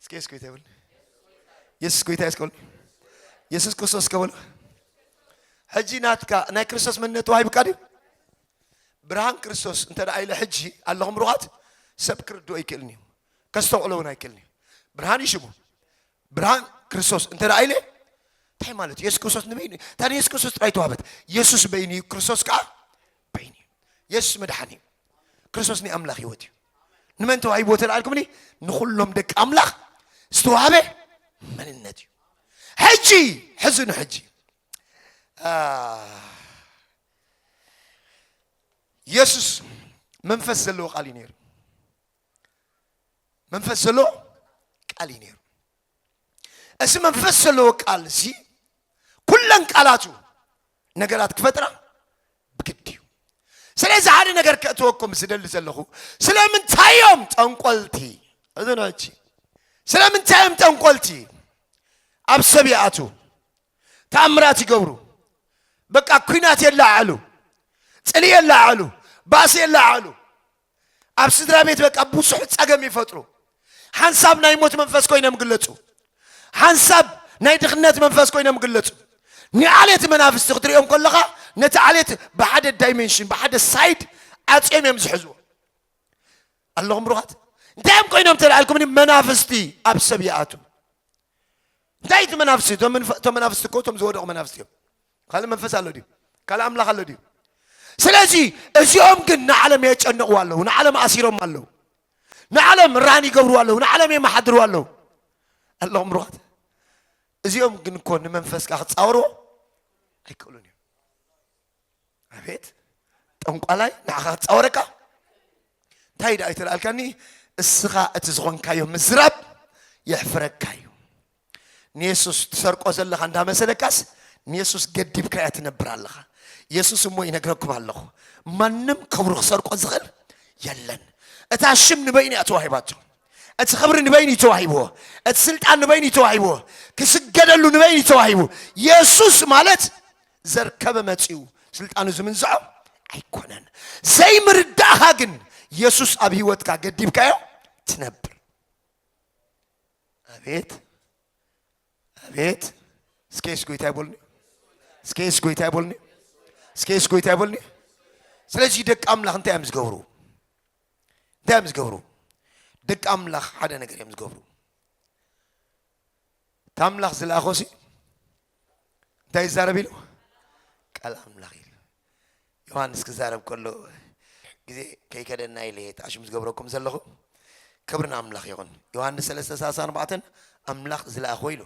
እስኪ የሱስ ጎይታ ይበል የሱስ ጎይታ የስ ከበል የሱስ ክርስቶስ ከበል ሕጂ ናትካ ናይ ክርስቶስ መንነት ተዋሂብካ ድዩ ብርሃን ክርስቶስ እንተ ደኣ ኢለ ሕጂ ኣለኹም ሩቓት ሰብ ክርድኦ ኣይክእልን እዩ ከስተውዕሎ እውን ኣይክእልን እዩ ብርሃን እዩ ሽሙ ብርሃን ክርስቶስ እንተ ደኣ ኢለ እንታይ ማለት እዩ የሱስ ክርስቶስ ንበይኑ ታን የሱስ ክርስቶስ ጥራይ ተዋህበት የሱስ በይኑ እዩ ክርስቶስ ከዓ በይኑ እዩ የሱስ መድሓኒ እዩ ክርስቶስ ናይ ኣምላኽ ህይወት እዩ ንመን ተዋሂቦ ተላኣልኩምኒ ንኹሎም ደቂ ኣምላኽ ዝተዋህበ መንነት እዩ ሕጂ ሕዚ ንሕጂ የሱስ መንፈስ ዘለዎ ቃል እዩ ነይሩ መንፈስ ዘለዎ ቃል እዩ ነይሩ እዚ መንፈስ ዘለዎ ቃል እዚ ኩለን ቃላቱ ነገራት ክፈጥራ ብግድ እዩ ስለዚ ሓደ ነገር ከእትወኩም ዝደሊ ዘለኹ ስለምንታይ እዮም ጠንቆልቲ እዝኖች ስለምንታይ እዮም ጠንቆልቲ ኣብ ሰብ ይኣቱ ተኣምራት ይገብሩ በቃ ኩናት የለዓዕሉ ፅሊ የለዓዕሉ ባእሲ የለዓዕሉ ኣብ ስድራ ቤት በቃ ብዙሕ ጸገም ይፈጥሩ። ሓንሳብ ናይ ሞት መንፈስ ኮይኖም ግለጹ። ሓንሳብ ናይ ድኽነት መንፈስ ኮይኖም ግለጹ። ንዓሌት መናፍስቲ ክትሪኦም ከለኻ ነቲ ዓሌት ብሓደ ዳይሜንሽን ብሓደ ሳይድ ዓጽዮም እዮም ዝሕዝዎ። ኣለኹም ብሩኻት እንታይ እዮም ኮይኖም ተላልኩምኒ መናፍስቲ ኣብ ሰብ ይኣትዉ እንታይ እቲ መናፍስቲ እቶም መናፍስቲ እኮ እቶም ዝወደቑ መናፍስቲ እዮም ካልእ መንፈስ ኣሎ ድዩ? ካልእ ኣምላኽ ኣሎ ድዩ? ስለዚ እዚኦም ግን ንዓለም የጨንቕዋ ኣለዉ፣ ንዓለም ኣሲሮም ኣለዉ፣ ንዓለም ራን ይገብርዋ ኣለዉ፣ ንዓለም የመሓድርዋ ኣለዉ። ኣለኹም ብሩኻት። እዚኦም ግን እኮ ንመንፈስካ ክጻወርዎ ኣይክእሉን እዮም። ኣቤት ጠንቋላይ ንዓኻ ክጻወረካ እንታይ ደኣ ይተልኣልካኒ እስኻ እቲ ዝኾንካዮ ምዝራብ የሕፍረካ እዩ። ንየሱስ ትሰርቆ ዘለኻ እንዳመሰለካስ ንየሱስ ገዲብካያ ትነብር ኣለኻ። የሱስ እሞ ይነግረኩም ኣለኹ ማንም ክብሩ ክሰርቆ ዝኽእል የለን። እታ ሽም ንበይኑ እያ ተዋሂባቶ። እቲ ክብሪ ንበይኑ እዩ ተዋሂብዎ። እቲ ስልጣን ንበይኑ እዩ ተዋሂብዎ። ክስገደሉ ንበይኑ እዩ ተዋሂቡ። የሱስ ማለት ዘርከበ መጺኡ ስልጣኑ ዝምንዝዖ ኣይኮነን። ዘይምርዳእኻ ግን የሱስ ኣብ ህይወትካ ገዲብካዮ ትነብር ኣቤት ኣቤት እስከ የሱስ ጎይታ ይበልኒ እስከ የሱስ ጎይታ ይበልኒ እስከ የሱስ ጎይታ ይበልኒ ስለዚ ደቂ ኣምላኽ እንታይ እዮም ዝገብሩ እንታይ እዮም ዝገብሩ ደቂ ኣምላኽ ሓደ ነገር እዮም ዝገብሩ እቲ ኣምላኽ ዝለኣኾሲ እንታይ ይዛረብ ኢሉ ቃል ኣምላኽ ኢሉ ዮሃንስ ክዛረብ ከሎ ግዜ ከይከደና ኢለ እየ ተኣሽሙ ዝገብረኩም ዘለኹ ክብሪ ንኣምላኽ ይኹን ዮሃንስ ሰለስተ ሰላሳን ኣርባዕተን ኣምላኽ ዝለኣኾ ኢሉ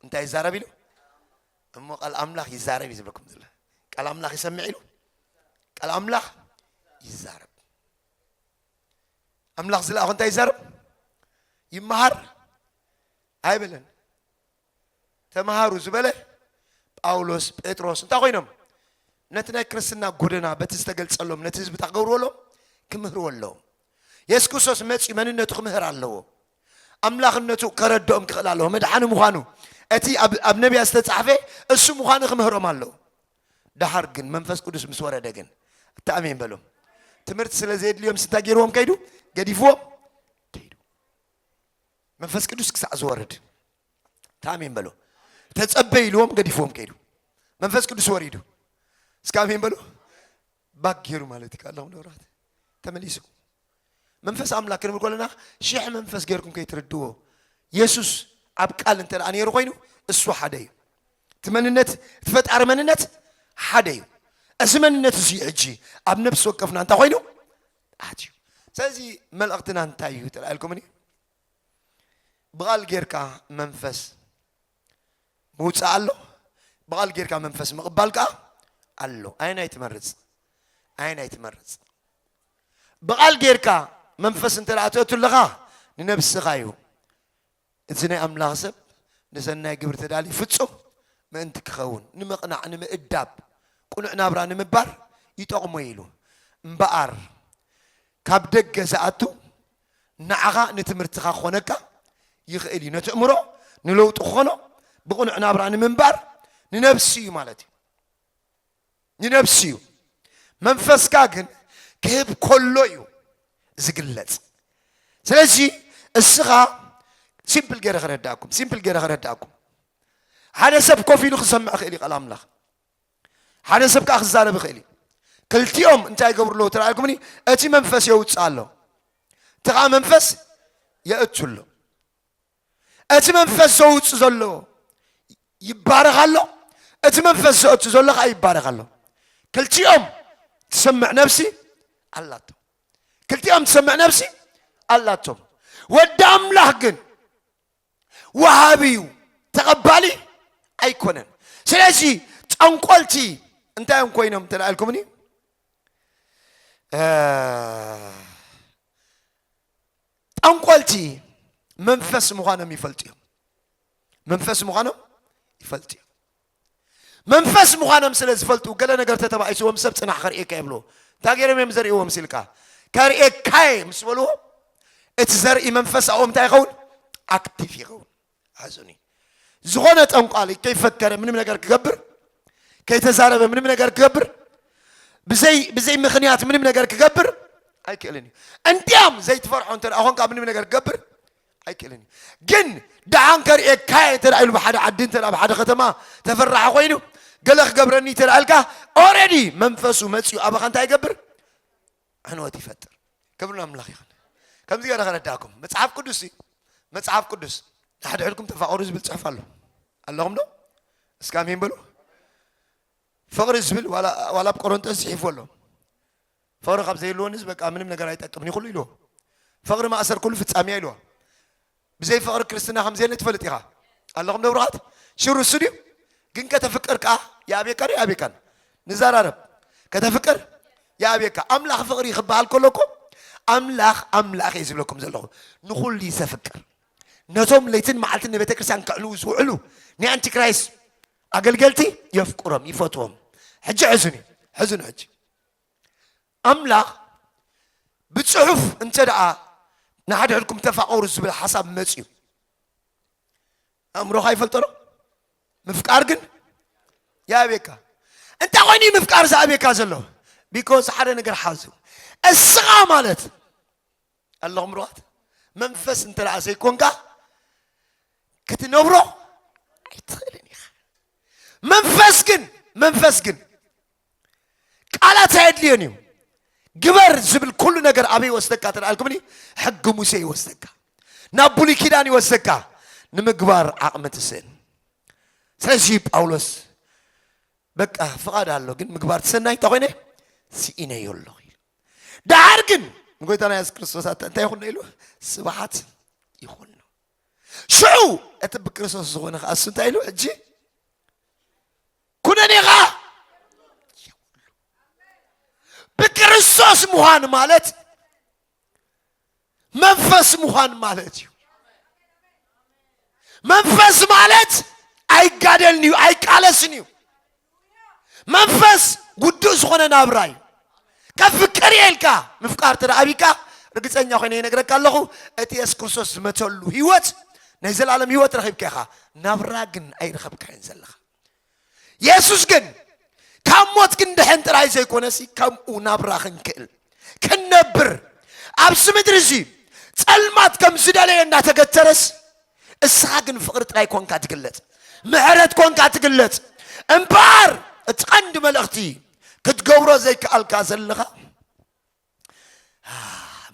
እንታይ ይዛረብ ኢሉ እሞ ቃል ኣምላኽ ይዛረብ እዩ ዝብለኩም ዘሎ ቃል ኣምላኽ ይሰምዕ ኢሉ ቃል ኣምላኽ ይዛረብ ኣምላኽ ዝለኣኾ እንታይ ይዛረብ ይመሃር ኣይበለን ተመሃሩ ዝበለ ጳውሎስ፣ ጴጥሮስ እንታይ ኮይኖም? ነቲ ናይ ክርስትና ጎደና በቲ ዝተገልጸሎም ነቲ ህዝቢ እንታይ ክገብርዎ ኣለዎም? ክምህርዎ ኣለዎም። የሱስ ክርስቶስ መጺኡ መንነቱ ክምህር ኣለዎ። ኣምላኽነቱ ከረድኦም ክኽእል ኣለዎ። መድሓኒ ምዃኑ እቲ ኣብ ነቢያት ዝተጻሕፈ እሱ ምዃኑ ክምህሮም ኣለዎ። ደሓር ግን መንፈስ ቅዱስ ምስ ወረደ ግን እቲ ኣሜን በሎም ትምህርቲ ስለ ዘየድልዮም ስንታይ ገይርዎም ከይዱ ገዲፍዎም መንፈስ ቅዱስ ክሳዕ ዝወርድ ታሜን በሎ ተጸበ ኢልዎም ገዲፍዎም ከይዱ መንፈስ ቅዱስ ወሪዱ እስከ ኣሜን በሎ ባክ ገይሩ ማለት እዩ ካላኹም ደብራት ተመሊሱ መንፈስ ኣምላክ ክንብል ከለና ሽሕ መንፈስ ገይርኩም ከይትርድዎ የሱስ ኣብ ቃል እንተ ነይሩ ኮይኑ እሱ ሓደ እዩ እቲ መንነት እቲ ፈጣሪ መንነት ሓደ እዩ እዚ መንነት እዚ ሕጂ ኣብ ነፍሲ ወከፍና እንታይ ኮይኑ ኣትዩ ስለዚ መልእኽትና እንታይ እዩ ተላኢልኩምኒ ብቓል ጌርካ መንፈስ ምውፃእ ኣሎ ብቓል ጌርካ መንፈስ ምቕባል ከዓ ኣሎ ኣየናይ ትመርፅ ኣየናይ ትመርፅ ብቓል ጌርካ መንፈስ እንተ ኣትወቱ ኣለኻ ንነብስኻ እዩ እዚ ናይ ኣምላኽ ሰብ ንሰናይ ግብሪ ተዳልዩ ፍጹም ምእንቲ ኪኸውን፣ ንምቕናዕ፣ ንምእዳብ፣ ቅኑዕ ናብራ ንምባር ይጠቕሞ እዩ ኢሉ። እምበኣር ካብ ደገ ዝኣቱ ንዓኻ ንትምህርትኻ ክኾነካ ይኽእል እዩ። ነቲ ኣእምሮ ንለውጢ ክኾኖ ብቕኑዕ ናብራ ንምንባር ንነብሲ እዩ ማለት እዩ። ንነብሱ እዩ፣ መንፈስካ ግን ክህብ ከሎ እዩ ዝግለጽ። ስለዚ እስኻ ሲምፕል ገይረ ከረዳእኩም ሲምፕል ገይረ ከረዳእኩም ሓደ ሰብ ኮፍ ኢሉ ክሰምዕ ይኽእል እዩ ቃል ኣምላኽ ሓደ ሰብ ከዓ ክዛረብ ይኽእል እዩ ክልቲኦም እንታይ ይገብሩ ኣለዎ ተረኣልኩምኒ እቲ መንፈስ የውፅእ ኣሎ እቲ ከዓ መንፈስ የእቱ ኣሎ እቲ መንፈስ ዘውፅ ዘሎ ይባረኽ ኣሎ እቲ መንፈስ ዘእቱ ዘሎ ከዓ ይባረኽ ኣሎ ክልቲኦም ትሰምዕ ነብሲ ኣላቶም ክልቲኦም ትሰምዕ ነብሲ ኣላቶም ወዲ ኣምላኽ ግን ወሃቢ እዩ ተቐባሊ ኣይኮነን ስለዚ ጠንቆልቲ እንታይ እዮም ኮይኖም እንተ ኢልኩምኒ ጠንቆልቲ መንፈስ ምዃኖም ይፈልጡ እዮም መንፈስ ምዃኖም ይፈልጡ እዮም መንፈስ ምዃኖም ስለ ዝፈልጡ ገለ ነገር ተተባኢስዎም ሰብ ፅናሕ ከርእየካ የብሎ እንታይ ገይሮም እዮም ዘርእዎም ሲልካ ከርእየካየ ምስ በልዎ እቲ ዘርኢ መንፈስ ኣብኦም እንታይ ይኸውን ኣክቲቭ ይኸውን ኣሕዝኑኒ ዝኾነ ጠንቋሊ ከይፈከረ ምንም ነገር ክገብር ከይተዛረበ ምንም ነገር ክገብር ብዘይ ብዘይ ምክንያት ምንም ነገር ክገብር ኣይክእልን እዩ እንዲያም ዘይትፈርሖ እንተ ኮንካ ምንም ነገር ክገብር ኣይክእልን እዩ ግን ደሓን ከርእየካ እየ እንተ ኢሉ ብሓደ ዓዲ እንተ ኣብ ሓደ ከተማ ተፈራሒ ኮይኑ ገለ ክገብረኒ እንተ ኢልካ ኦረዲ መንፈሱ መፅኡ ኣባኻ እንታይ ይገብር ዕንወት ይፈጥር ክብር ኣምላኽ ይኹን ከምዚ ገረ ከረዳእኩም መጽሓፍ ቅዱስ መጽሓፍ ቅዱስ ንሓድሕድኩም ተፋቐሩ ዝብል ጽሑፍ ኣሎ ኣለኹም ዶ እስከ ኣሜን በሉ ፍቕሪ ዝብል ዋላ ኣብ ቆሮንጦስ ጽሒፉ ኣሎ ፍቕሪ ካብ ዘይህልዎንስ በቃ ምንም ነገር ኣይጠቅምን ይኹሉ ኢልዎ ፍቕሪ ማእሰር ኩሉ ፍጻሜያ ኢልዎ ብዘይ ፍቕሪ ክርስትና ከም ዘየለ ትፈልጥ ኢኻ ኣለኹም ዶ ብሩኻት? ሽሩ እሱ ድዩ? ግን ከተፍቅር ከኣ ይኣብየካ ዶ ይኣብየካን? ንዘራረብ ከተፍቅር ይኣብየካ። ኣምላኽ ፍቕሪ ክበሃል ከሎ እኮ ኣምላኽ ኣምላኽ እየ ዝብለኩም ዘለኹ ንኹሉ እዩ ዘፍቅር። ነቶም ለይትን መዓልትን ንቤተ ክርስቲያን ከዕልዉ ዝውዕሉ ናይ ኣንቲክራይስት ኣገልገልቲ የፍቅሮም ይፈትዎም። ሕጂ ሕዙኒ ሕዙኒ ሕጂ ኣምላኽ ብጽሑፍ እንተደኣ ንሓድሕድኩም ተፋቐሩ ዝብል ሓሳብ መጺኡ ኣእምሮኻ ይፈልጦ ዶ? ምፍቃር ግን ይኣብየካ። እንታይ ኮይኑ እዩ ምፍቃር ዝኣብየካ ዘሎ? ቢኮዝ ሓደ ነገር ሓዙ እስኻ ማለት ኣለኹም ሩዋት መንፈስ እንተ ዘይኮንካ ክትነብሮ ኣይትኽእልን ኢኻ። መንፈስ ግን መንፈስ ግን ቃላት ኣየድልዮን እዩ ግበር ዝብል ኩሉ ነገር ኣበይ ይወስደካ ተልኣልኩምኒ ሕጊ ሙሴ ይወስደካ ናብ ብሉይ ኪዳን ይወስደካ ንምግባር ዓቕሚ ትስእን ስለዚ ጳውሎስ በቃ ፍቓድ ኣሎ ግን ምግባር ትሰናይ እንታይ ኮይነ ስኢነዮ ኣለኹ ኢሉ ደሓር ግን ንጎይታና የሱስ ክርስቶስ ኣታ እንታይ ይኹን ኢሉ ስብሓት ይኹን ሽዑ እቲ ብክርስቶስ ዝኾነ ከዓ እሱ እንታይ ኢሉ ሕጂ ኩነን ኢኻ ብክርስቶስ ምዃን ማለት መንፈስ ምዃን ማለት እዩ መንፈስ ማለት ኣይጋደልን እዩ ኣይቃለስን እዩ መንፈስ ውዱእ ዝኾነ ናብራ እዩ ካብ ፍቅር እየ ኢልካ ምፍቃር እንተ ኣብካ ርግፀኛ ኮይነ ይነግረካ ኣለኹ እቲ የሱስ ክርስቶስ ዝመተሉ ህይወት ናይ ዘላለም ህይወት ረኺብካ ኢኻ ናብራ ግን ኣይረኸብካዮን ዘለኻ የሱስ ግን ካብ ሞት ክንድሕን ጥራይ ዘይኮነሲ ከምኡ ናብራ ክንክእል ክንነብር ኣብዚ ምድሪ እዚ ጸልማት ከም ዝደለየ እናተገተረስ እስኻ ግን ፍቕሪ ጥራይ ኮንካ ትግለጽ ምሕረት ኮንካ ትግለጽ እምበኣር እቲ ቀንዲ መልእኽቲ ክትገብሮ ዘይከኣልካ ዘለኻ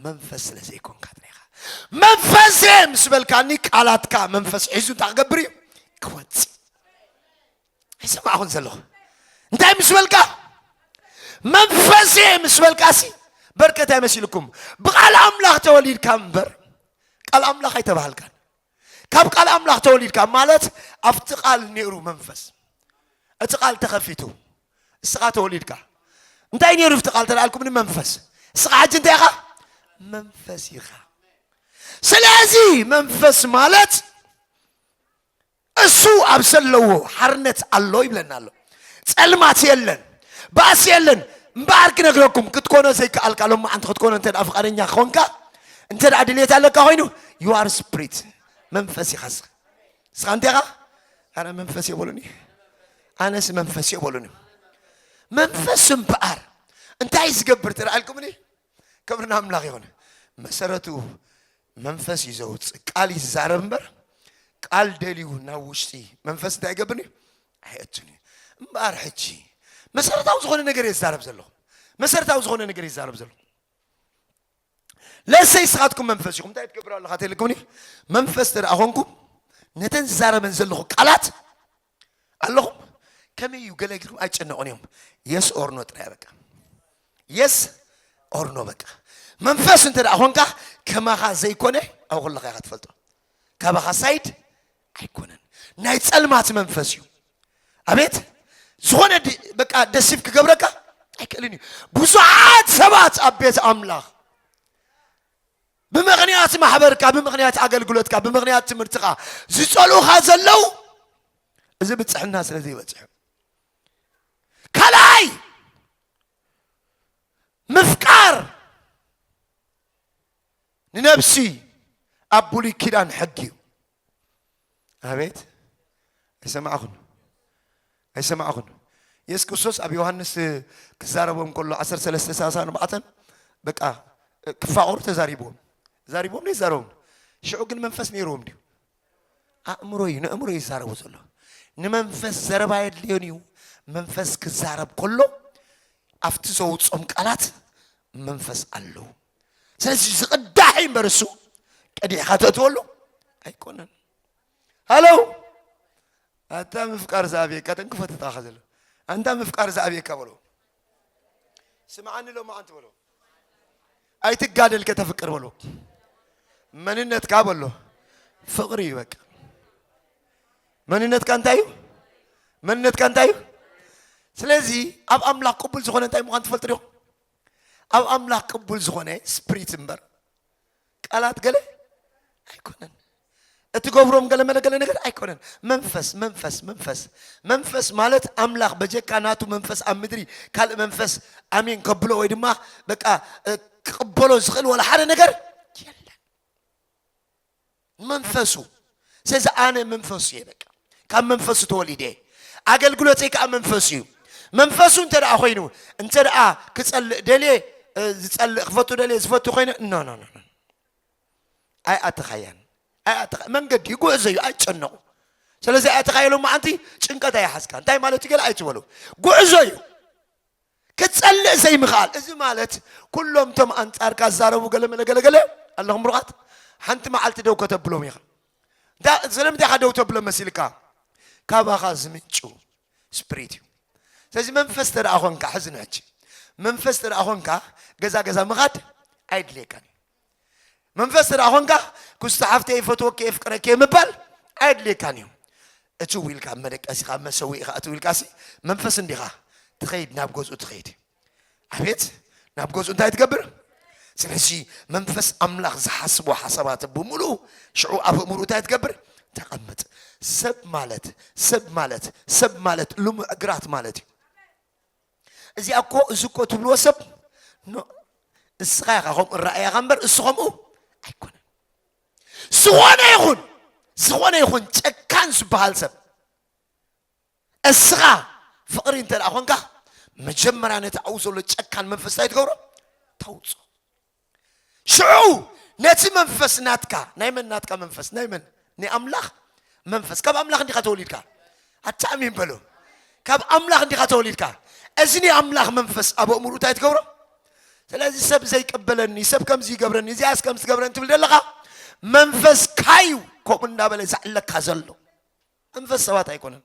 መንፈስ ስለ ዘይኮንካ ጥራኻ መንፈስ እየ ምስ በልካኒ ቃላትካ መንፈስ ሒዙ እንታይ ክገብር እዩ ክወፅ ኣይሰማዕኹን ዘለኹ እንታይ ምስ በልካ መንፈስ እየ ምስ በልካሲ በርከት ኣይመሲልኩም ብቃል ኣምላኽ ተወሊድካ እምበር ቃል ኣምላኽ ኣይተባሃልካን ካብ ቃል ኣምላኽ ተወሊድካ ማለት ኣብቲ ቃል ነይሩ መንፈስ እቲ ቃል ተኸፊቱ እስኻ ተወሊድካ እንታይ ነይሩ ብቲ ቃል ተላኣልኩም ንመንፈስ እስኻ ሕጂ እንታይ ኢኻ መንፈስ ኢኻ ስለዚ መንፈስ ማለት እሱ ኣብ ዘለዎ ሓርነት ኣሎ ይብለና ኣሎ ጸልማት የለን ባእሲ የለን እምበኣር ክነግረኩም ክትኮኖ ዘይከኣልካ ሎማዓንቲ ክትኮኖ እንተ ፍቃደኛ ክኾንካ እንተ ድሌት ኣለካ ኮይኑ ዩኣር ስፕሪት መንፈስ ኢኻ ስኻ ስኻ እንቴኻ ኣነ መንፈስ የበሉኒ ኣነስ መንፈስ የበሉኒ መንፈስ እምበኣር እንታይ ዝገብር ትረኣልኩምኒ ክብርና ኣምላኽ ይኹን መሰረቱ መንፈስ እዩ ዘውፅእ ቃል ይዛረብ እምበር ቃል ደልዩ ናብ ውሽጢ መንፈስ እንታይ ይገብርኒ ኣይእቱን እዩ እምበኣር ሕጂ መሰረታዊ ዝኾነ ነገር የዛረብ ዘለኹ መሰረታዊ ዝኾነ ነገር ይዛረብ ዘለኹ ለሰይ ስኻትኩም መንፈስ ኢኹም እንታይ ትገብር ኣለኻ ተልኩምኒ መንፈስ ተደኣ ኮንኩም ነተን ዝዛረበን ዘለኹ ቃላት ኣለኹም ከመይ እዩ ገለ ጊኹም ኣይጨነቑን እዮም የስ ኦርኖ ጥራይ በቃ የስ ኦርኖ በቃ መንፈስ እንተ ደኣ ኮንካ ከማኻ ዘይኮነ ኣብ ኩለኻ ኢኻ ትፈልጦ ካባኻ ሳይድ ኣይኮነን ናይ ጸልማት መንፈስ እዩ ኣቤት ዝኾነ በቃ ደሲብ ክገብረካ ኣይክእልን እዩ ብዙሓት ሰባት ኣብ ቤት ኣምላኽ ብምክንያት ማሕበርካ ብምክንያት ኣገልግሎትካ ብምክንያት ትምህርትኻ ዝፀልኡኻ ዘለው እዚ ብፅሕና ስለ ዘይበፅሑ ካልኣይ ምፍቃር ንነብሲ ኣብ ብሉይ ኪዳን ሕጊ እዩ ኣቤት ኣይሰማዕኹን ኣይሰማዕኹን የሱስ ክርስቶስ ኣብ ዮሃንስ ክዛረቦም ከሎ 1334 በቃ ክፋቐሩ ተዛሪብዎም ዛሪብዎም ዶ ይዛረቡም ሽዑ ግን መንፈስ ነይርዎም ድዩ ኣእምሮ እዩ ንእምሮ እዩ ይዛረቡ ዘሎ ንመንፈስ ዘረባ የድልዮን እዩ መንፈስ ክዛረብ ከሎ ኣብቲ ዘውፅኦም ቃላት መንፈስ ኣለዉ ስለዚ ዝቕዳሕ እዩ እምበር እሱ ቀዲሕካ ተእትወሉ ኣይኮነን ሃሎ ኣታ ምፍቃር ዝኣብየካ ተንክፎ ተታኻ ዘሎ ኣንታ ምፍቃር ዝኣብየካ በሎ ስምዓኒ ሎማዓንቲ በሎ ኣይትጋደል ከተፍቅር በሎ መንነትካ በሎ ፍቕሪ እዩ በቃ መንነትካ እንታይ እዩ መንነትካ እንታይ እዩ ስለዚ ኣብ ኣምላኽ ቅቡል ዝኾነ እንታይ ምዃን ትፈልጡ ዲኹም ኣብ ኣምላኽ ቅቡል ዝኾነ ስፕሪት እምበር ቃላት ገለ ኣይኮነን እትገብሮም ገለ መለ ገለ ነገር ኣይኮነን መንፈስ መንፈስ መንፈስ መንፈስ ማለት ኣምላኽ በጀካ ናቱ መንፈስ ኣብ ምድሪ ካልእ መንፈስ ኣሜን ከብሎ ወይ ድማ በቃ ክቕበሎ ዝኽእል ወላ ሓደ ነገር መንፈሱ ስለዚ ኣነ መንፈሱ እየ በቃ ካብ መንፈሱ ተወሊደ እየ ኣገልግሎተይ ከዓ መንፈሱ እዩ መንፈሱ እንተ ደኣ ኮይኑ እንተ ደኣ ክጸልእ ደልየ ዝጸልእ ክፈቱ ደልየ ዝፈቱ ኮይነ ኖ ኖ ኖ ኣይኣተኻያን ኣይኣተኻ መንገዲ እዩ ጉዕዞ እዩ ኣይጨነቑ ስለዚ ኣይኣተኻ ኢሎም መዓንቲ ጭንቀት ኣይሓዝካ እንታይ ማለት ገለ ኣይትበሉ ጉዕዞ እዩ ክትጸልእ ዘይምኽኣል እዚ ማለት ኩሎም እቶም ኣንጻርካ ዝዛረቡ ገለመለ ገለገለ ኣለኹም ምሩቓት ሓንቲ መዓልቲ ደው ከተብሎም ኢኻ እንታ ስለምንታይ ኢኻ ደው ተብሎ መሲልካ ካባኻ ዝምንጩ ስፕሪት እዩ ስለዚ መንፈስ ተደኣ ኾንካ ሕዚ ንሕጂ መንፈስ ተደኣ ኾንካ ገዛ ገዛ ምኻድ ኣይድልየካን እዩ መንፈስ ስለ ኣኾንካ ኩስቲ ሓፍተይ ይፈትወኪ የፍቅረኪ ምባል ኣየድልየካን እዩ እትው ኢልካ ኣብ መደቀሲ ካብ መሰዊኢኻ እትው ኢልካሲ መንፈስ እንዲኻ ትኸይድ ናብ ገዝኡ ትኸይድ ኣቤት ናብ ገዝኡ እንታይ ትገብር ስለዚ መንፈስ ኣምላኽ ዝሓስቦ ሓሳባት ብምሉኡ ሽዑ ኣብ እምሩ እንታይ ትገብር ተቐምጥ ሰብ ማለት ሰብ ማለት ሰብ ማለት ልሙዕ ግራት ማለት እዩ እዚኣ እኮ እዚ እኮ ትብልዎ ሰብ እስኻ ኢኻ ከምኡ ራእያኻ እምበር እሱ ከምኡ ኣይኮነን። ዝኾነ ይኹን ዝኾነ ይኹን ጨካን ዝበሃል ሰብ እስኻ ፍቕሪ እንተ ደኣ ኮንካ መጀመርያ ነቲ ኣብኡ ዘሎ ጨካን መንፈስ እንታይ ትገብሮ ተውፅኦ ሽዑ ነቲ መንፈስ ናትካ ናይ መን ናትካ መንፈስ ናይ መን ናይ ኣምላኽ መንፈስ ካብ ኣምላኽ እንዲኻ ተወሊድካ ኣታ ኣሜን በሎ ካብ ኣምላኽ እንዲኻ ተወሊድካ እዚ ናይ ኣምላኽ መንፈስ ኣብ ኣእምሩ እንታይ ትገብሮ ስለዚ ሰብ ዘይቀበለኒ ሰብ ከምዚ ይገብረኒ እዚኣስ ከምዚ ትገብረኒ ትብል ዘለኻ መንፈስካ እዩ ከምኡ እናበለ ዘዕለካ ዘሎ መንፈስ ሰባት ኣይኮነን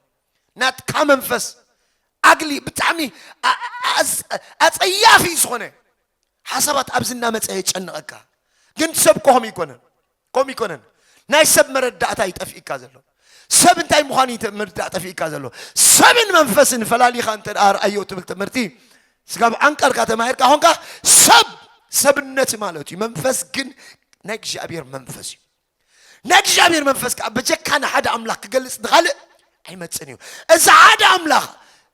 ናትካ መንፈስ ኣግሊ ብጣዕሚ ኣፀያፊ ዝኾነ ሓሳባት ኣብዚ እናመፀ የጨንቐካ ግን ሰብ ኮም ይኮነን ኮም ይኮነን ናይ ሰብ መረዳእታ ይጠፍእካ ዘሎ ሰብ እንታይ ምዃኑ መረዳእ ጠፍእካ ዘሎ ሰብን መንፈስን ፈላሊኻ እንተ ርኣዮ ትብል ትምህርቲ ስጋብ ዓንቀርካ ተማሂርካ ኾንካ ሰብ ሰብነት ማለት እዩ መንፈስ ግን ናይ እግዚኣብሔር መንፈስ እዩ ናይ እግዚኣብሔር መንፈስ ከዓ በጀካ ንሓደ ኣምላኽ ክገልጽ ንኻልእ ኣይመጽን እዩ እዚ ሓደ ኣምላኽ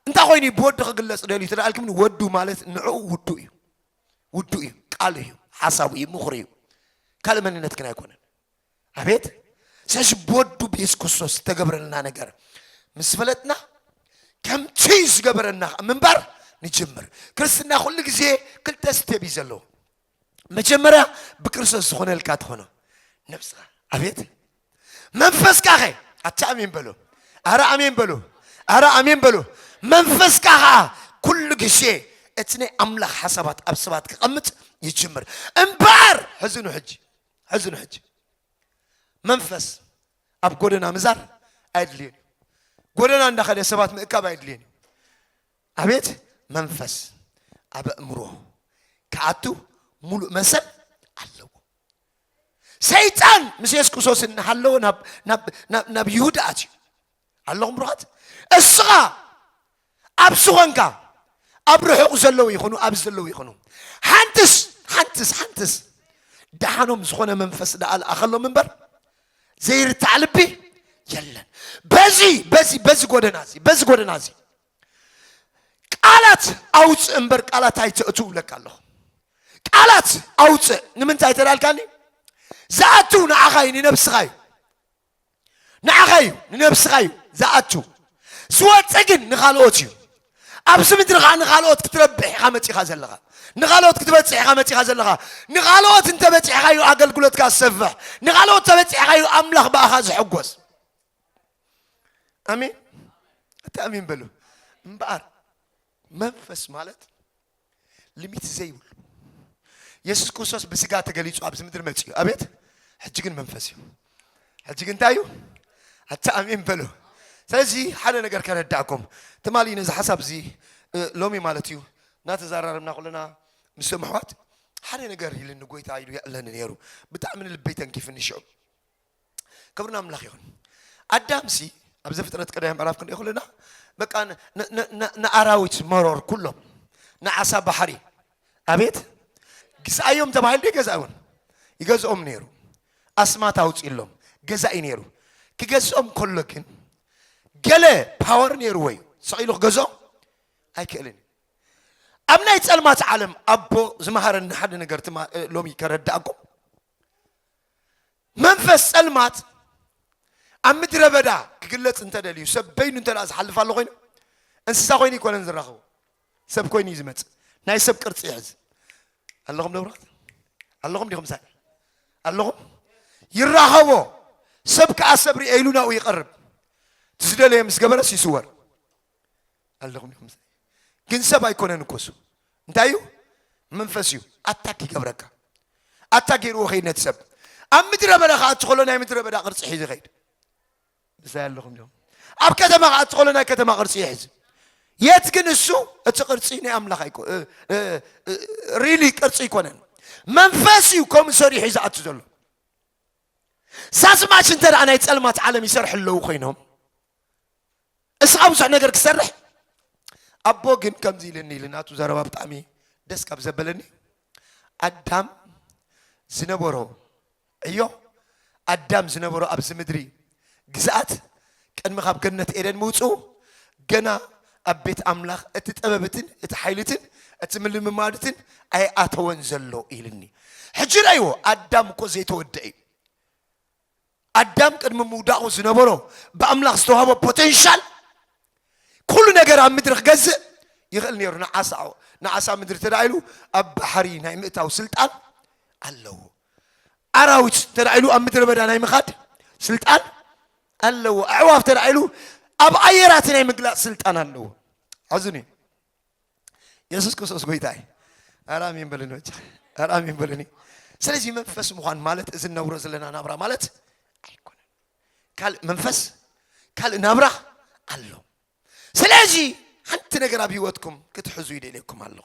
እንታይ ኮይኑ እዩ ብወዱ ክግለጽ ደልዩ ትደኣልክምኒ ወዱ ማለት ንዕኡ ውዱ እዩ ውዱ እዩ ቃሉ እዩ ሓሳቡ እዩ ምኽሩ እዩ ካልእ መንነት ግን ኣይኮነን ኣቤት ስለዚ ብወዱ ብየሱስ ክርስቶስ ዝተገብረልና ነገር ምስ ፈለጥና ከምቲ ዝገበረና ምንባር ንጅምር ክርስትና ኩሉ ግዜ ክልተ ስቴብ እዩ ዘለዎ መጀመርያ ብክርስቶስ ዝኾነልካ ትኾኖ ነብስኻ ኣቤት መንፈስካ ኸ ኣቲ ኣሜን በሎ ኣረ ኣሜን በሎ ኣረ ኣሜን በሎ መንፈስካ ኸዓ ኩሉ ግዜ እቲ ናይ ኣምላኽ ሓሳባት ኣብ ሰባት ክቐምጥ ይጅምር እምበኣር ሕዝኑ ሕጂ ሕዝኑ ሕጂ መንፈስ ኣብ ጎደና ምዛር ኣየድልየን እዩ ጎደና እንዳኸደ ሰባት ምእካብ ኣየድልየን እዩ ኣቤት መንፈስ ኣበእምሮ ክኣቱ ሙሉእ መሰል ኣለዎ ሰይጣን ምስ የሱስ ክርስቶስ እናሃለወ ናብ ይሁዳ ኣትዩ ኣለኹም ብሩኻት እስኻ ኣብ ዝኾንካ ኣብ ርሑቕ ዘለዉ ይኹኑ ኣብዚ ዘለዉ ይኹኑ ሓንትስ ሓንትስ ሓንትስ ደሓኖም ዝኾነ መንፈስ ደኣ ልኣኸሎም እምበር ዘይርታዕ ልቢ የለን በዚ በዚ በዚ ጎደና እዚ በዚ ጎደና እዚ ቃላት ኣውፅእ እምበር ቃላት ኣይተእቱ እብለካ ኣለኹ ቃላት ኣውፅእ ንምንታይ ተዳልካኒ ዝኣቱ ንዓኻ እዩ ንነብስኻ እዩ ንዓኻ እዩ ንነብስኻ እዩ ዝኣቱ ዝወፅእ ግን ንካልኦት እዩ ኣብዚ ምድሪ ከዓ ንካልኦት ክትረብሕ ኢኻ መፂኻ ዘለኻ ንካልኦት ክትበፅሕ ኢኻ መፂኻ ዘለኻ ንካልኦት እንተበፂሕኻ እዩ ኣገልግሎትካ ዝሰፍሕ ንካልኦት ተበፂሕኻ እዩ ኣምላኽ ብኣኻ ዝሕጎስ ኣሜን እቲ ኣሜን በሉ እምበኣር መንፈስ ማለት ልሚት ዘይብሉ የሱስ ክርስቶስ ብስጋ ተገሊጹ ኣብዚ ምድሪ መፅኡ ኣቤት ሕጂ ግን መንፈስ እዩ ሕጂ ግን እንታይ እዩ ኣቲ ኣሜን በሉ ስለዚ ሓደ ነገር ከረዳእኩም ትማሊ ነዚ ሓሳብ እዚ ሎሚ ማለት እዩ እናተዘራረብና ኩለና ምስ ምሕዋት ሓደ ነገር ኢልኒ ጎይታ ኢሉ የዕለኒ ነይሩ ብጣዕሚ ንልበይ ተንኪፍኒ ሽዑ ክብሪ ናምላኽ ይኹን ኣዳምሲ ኣብ ዘፍጥረት ቀዳማይ ምዕራፍ ክንሪኦ ከለና በቃ ንኣራዊት መሮር ኩሎም ንዓሳ ባሕሪ ኣቤት ግዛኣዮም ተባሂሉ ዶ ይገዛእውን ይገዝኦም ነይሩ ኣስማት ኣውፅእሎም ገዛኢ ነይሩ ክገዝኦም ከሎ ግን ገለ ፓወር ነይርዎ እዩ ሰቂሉ ክገዝኦ ኣይክእልን ኣብ ናይ ፀልማት ዓለም ኣቦ ዝመሃረኒ ሓደ ነገር ሎሚ ከረዳእኩም መንፈስ ጸልማት ኣብ ምድረ በዳ ክግለጽ እንተ ደልዩ ሰብ በይኑ እንተ ዝሓልፍ ኣሎ ኮይኑ እንስሳ ኮይኑ ይኮነን ዝራኸቡ ሰብ ኮይኑ እዩ ዝመጽእ ናይ ሰብ ቅርጺ ይሕዝ ኣለኹም ደብራት ኣለኹም ዲኹም ሳይ ኣለኹም ይራኸቦ ሰብ ከዓ ሰብ ርኤ ኢሉ ናብኡ ይቐርብ እቲ ዝደለየ ምስ ገበረስ ይስወር ኣለኹም ኢኹም ግን ሰብ ኣይኮነን እኮ እሱ እንታይ እዩ መንፈስ እዩ ኣታክ ይገብረካ ኣታ ገይርዎ ከይድ ነቲ ሰብ ኣብ ምድረ በዳ ከዓ እትኸሎ ናይ ምድረ በዳ ቅርፂ ሒዙ ይኸይድ ምሳይ ኣለኹም እዮም ኣብ ከተማ ከዓ እትኸሎ ናይ ከተማ ቅርፂ ይሕዝ የት ግን እሱ እቲ ቅርፂ ናይ ኣምላኽ ኣይኮ ሪሊ ቅርፂ ኣይኮነን መንፈስ እዩ ከምኡ ሰሪሑ እዩ ዝኣቱ ዘሎ ሳስማሽ እንተ ናይ ፀልማት ዓለም ይሰርሑ ኣለዉ ኮይኖም እስኻ ብዙሕ ነገር ክሰርሕ ኣቦ ግን ከምዚ ኢልኒ ኢሉ ናቱ ዘረባ ብጣዕሚ ደስ ካብ ዘበለኒ ኣዳም ዝነበሮ ዕዮ ኣዳም ዝነበሮ ኣብዚ ምድሪ ግዝኣት ቅድሚ ካብ ገነት ኤደን ምውፅኡ ገና ኣብ ቤት ኣምላኽ እቲ ጥበብትን እቲ ሓይልትን እቲ ምልምማድትን ኣይኣተወን ዘሎ ኢልኒ ሕጂ ረእይዎ ኣዳም እኮ ዘይተወደአ እዩ ኣዳም ቅድሚ ምውዳቑ ዝነበሮ ብኣምላኽ ዝተዋህቦ ፖተንሻል ኩሉ ነገር ኣብ ምድሪ ክገዝእ ይኽእል ነይሩ። ንዓሳ ንዓሳ ምድሪ እንተ ኢሉ ኣብ ባሕሪ ናይ ምእታው ስልጣን ኣለዎ። ኣራዊት እንተ ኢሉ ኣብ ምድረ በዳ ናይ ምኻድ ስልጣን ኣለዎ። ኣዕዋፍ እንተ ኢሉ ኣብ ኣየራት ናይ ምግላፅ ስልጣን ኣለዎ። ኣዝኒ ኢየሱስ ክርስቶስ ጎይታ እዩ። ኧረ አሜን በልኒ በጃ፣ ኧረ አሜን በልኒ። ስለዚህ መንፈስ ምዃን ማለት እዚ ነብሮ ዘለና ናብራ ማለት ኣይኮነን። ካልእ መንፈስ ካልእ ናብራ ኣሎ። ስለዚ ሓንቲ ነገር ኣብ ህይወትኩም ክትሕዙ ይደልየኩም ኣሎ።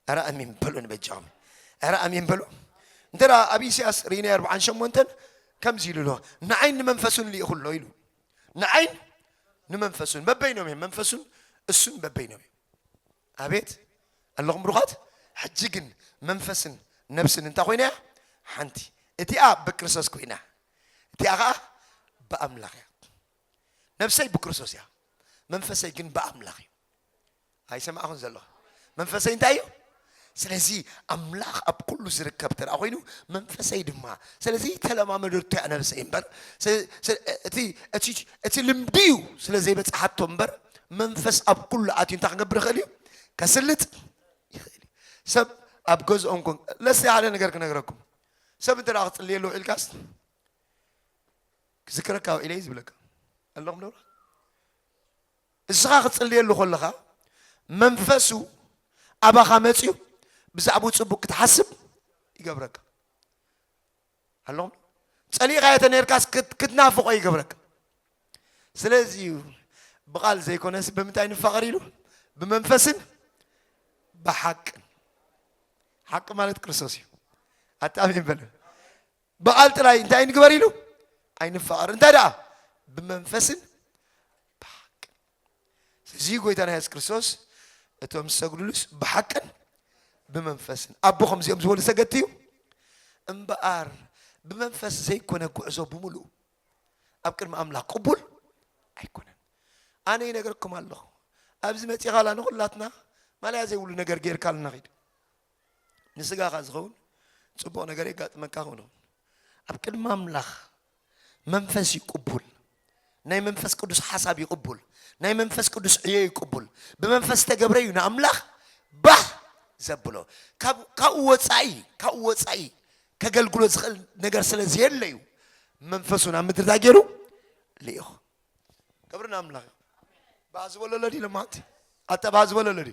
ኧረ አሜን በሉን በጃኹም፣ ኧረ አሜን በሉ። እንተ ኣብ ኢሳያስ ርኢናዮ ኣርብዓን ሸሞንተን ከምዚ ኢሉ ኣሎ ንዓይን ንመንፈሱን ልኢኹ ኣሎ ኢሉ ንዓይን ንመንፈሱን በበይኖም እዮም መንፈሱን እሱን በበይኖም እዮም ኣቤት ኣለኹም ብሩኻት ሕጂ ግን መንፈስን ነብስን እንታይ ኮይና እያ ሓንቲ እቲኣ ብክርስቶስ ኮይና እቲኣ ከዓ ብኣምላኽ እያ ነብሰይ ብክርስቶስ እያ መንፈሰይ ግን ብኣምላኽ እዩ ኣይሰማዕኹን ዘለኹ መንፈሰይ እንታይ እዩ ስለዚ ኣምላኽ ኣብ ኩሉ ዝርከብ ተራ ኮይኑ መንፈሰይ ድማ ስለዚ ተለማመደቶ እያ ነብሰይ እምበር እቲ ልምዲ እዩ ስለ ዘይበፅሓቶ እምበር መንፈስ ኣብ ኩሉ ኣትዩ እንታይ ክንገብር ይኽእል እዩ ከስልጥ ይኽእል እዩ ሰብ ኣብ ገዝኦም ኮን ለስ ሓደ ነገር ክነግረኩም ሰብ እንተ ክፅልየሉ ውዒልካስ ክዝክረካ ውዒለይ ዝብለካ ኣለኹም ዶ እስኻ ክትጽልየሉ ከለኻ መንፈሱ ኣባኻ መጽዩ ብዛዕብኡ ጽቡቅ ክትሓስብ ይገብረካ። ኣለኹም ጸሊእኻዮ ተነርካስ ክትናፍቆ ይገብረካ። ስለዚ እዩ ብቃል ዘይኮነስ ብምንታይ ንፋቐር ኢሉ ብመንፈስን ብሓቅን ሓቂ ማለት ክርስቶስ እዩ። ኣታሚን በለ ብቓል ጥራይ እንታይ ንግበር ኢሉ ኣይንፋቐር እንታይ ደኣ ብመንፈስን ብሓቅን እዚ ጎይታና የሱስ ክርስቶስ እቶም ዝሰግዱሉስ ብሓቅን ብመንፈስን ኣቦ ከምዚኦም ዝበሉ ሰገድቲ እዩ እምበኣር ብመንፈስ ዘይኮነ ጉዕዞ ብምሉእ ኣብ ቅድሚ ኣምላኽ ቅቡል ኣይኮነን ኣነ ይነገርኩም ኣለኹ ኣብዚ መፂኻላ ንኹላትና ማለያ ዘይብሉ ነገር ጌርካልና ኺድ ንስጋኻ ዝኸውን ጽቡቕ ነገር የጋጥመካ ኾኖ ኣብ ቅድሚ ኣምላኽ መንፈስ እዩ ቅቡል ናይ መንፈስ ቅዱስ ሓሳብ እዩ ቅቡል ናይ መንፈስ ቅዱስ ዕዮ እዩ ቅቡል ብመንፈስ ተገብረ እዩ ንኣምላኽ ባህ ዘብሎ ካብኡ ወፃኢ ካብኡ ወፃኢ ከገልግሎ ዝኽእል ነገር ስለ ዘየለ እዩ መንፈሱ ናብ ምድሪ እንታይ ገይሩ ልኢኹ ክብሪ ንኣምላኽ እዩ ባህ ዝበለለዲ ኢሎማ ኣንተ ባህ ዝበለለዲ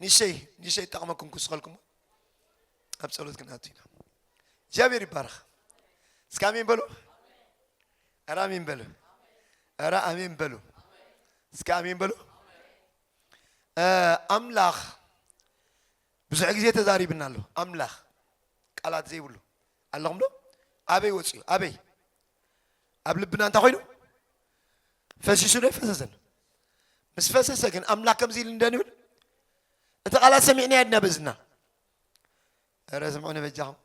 ንሸይ ንሸይ ጠቕመኩም ክውስኸልኩም ኣብ ጸሎት ክንኣቱ ኢና እግዚኣብሔር ይባረኽ እስከ ኣሜን በሉ ኧረ ኣሜን በሉ ኧረ ኣሜን በሉ እስከ ኣሜን በሉ ኣምላኽ ብዙሕ ግዜ ተዛሪብና ኣሎ ኣምላኽ ቃላት ዘይብሉ ኣለኹም ዶ ኣበይ ወፅዩ ኣበይ ኣብ ልብና እንታይ ኮይኑ ፈሲሱ ዶ ይፈሰሰን ምስ ፈሰሰ ግን ኣምላክ ከምዚ ኢሉ እንደን ይብል እቲ ቃላት ሰሚዕና የድና ብእዝና ረ ስምዑኒ በጃኹም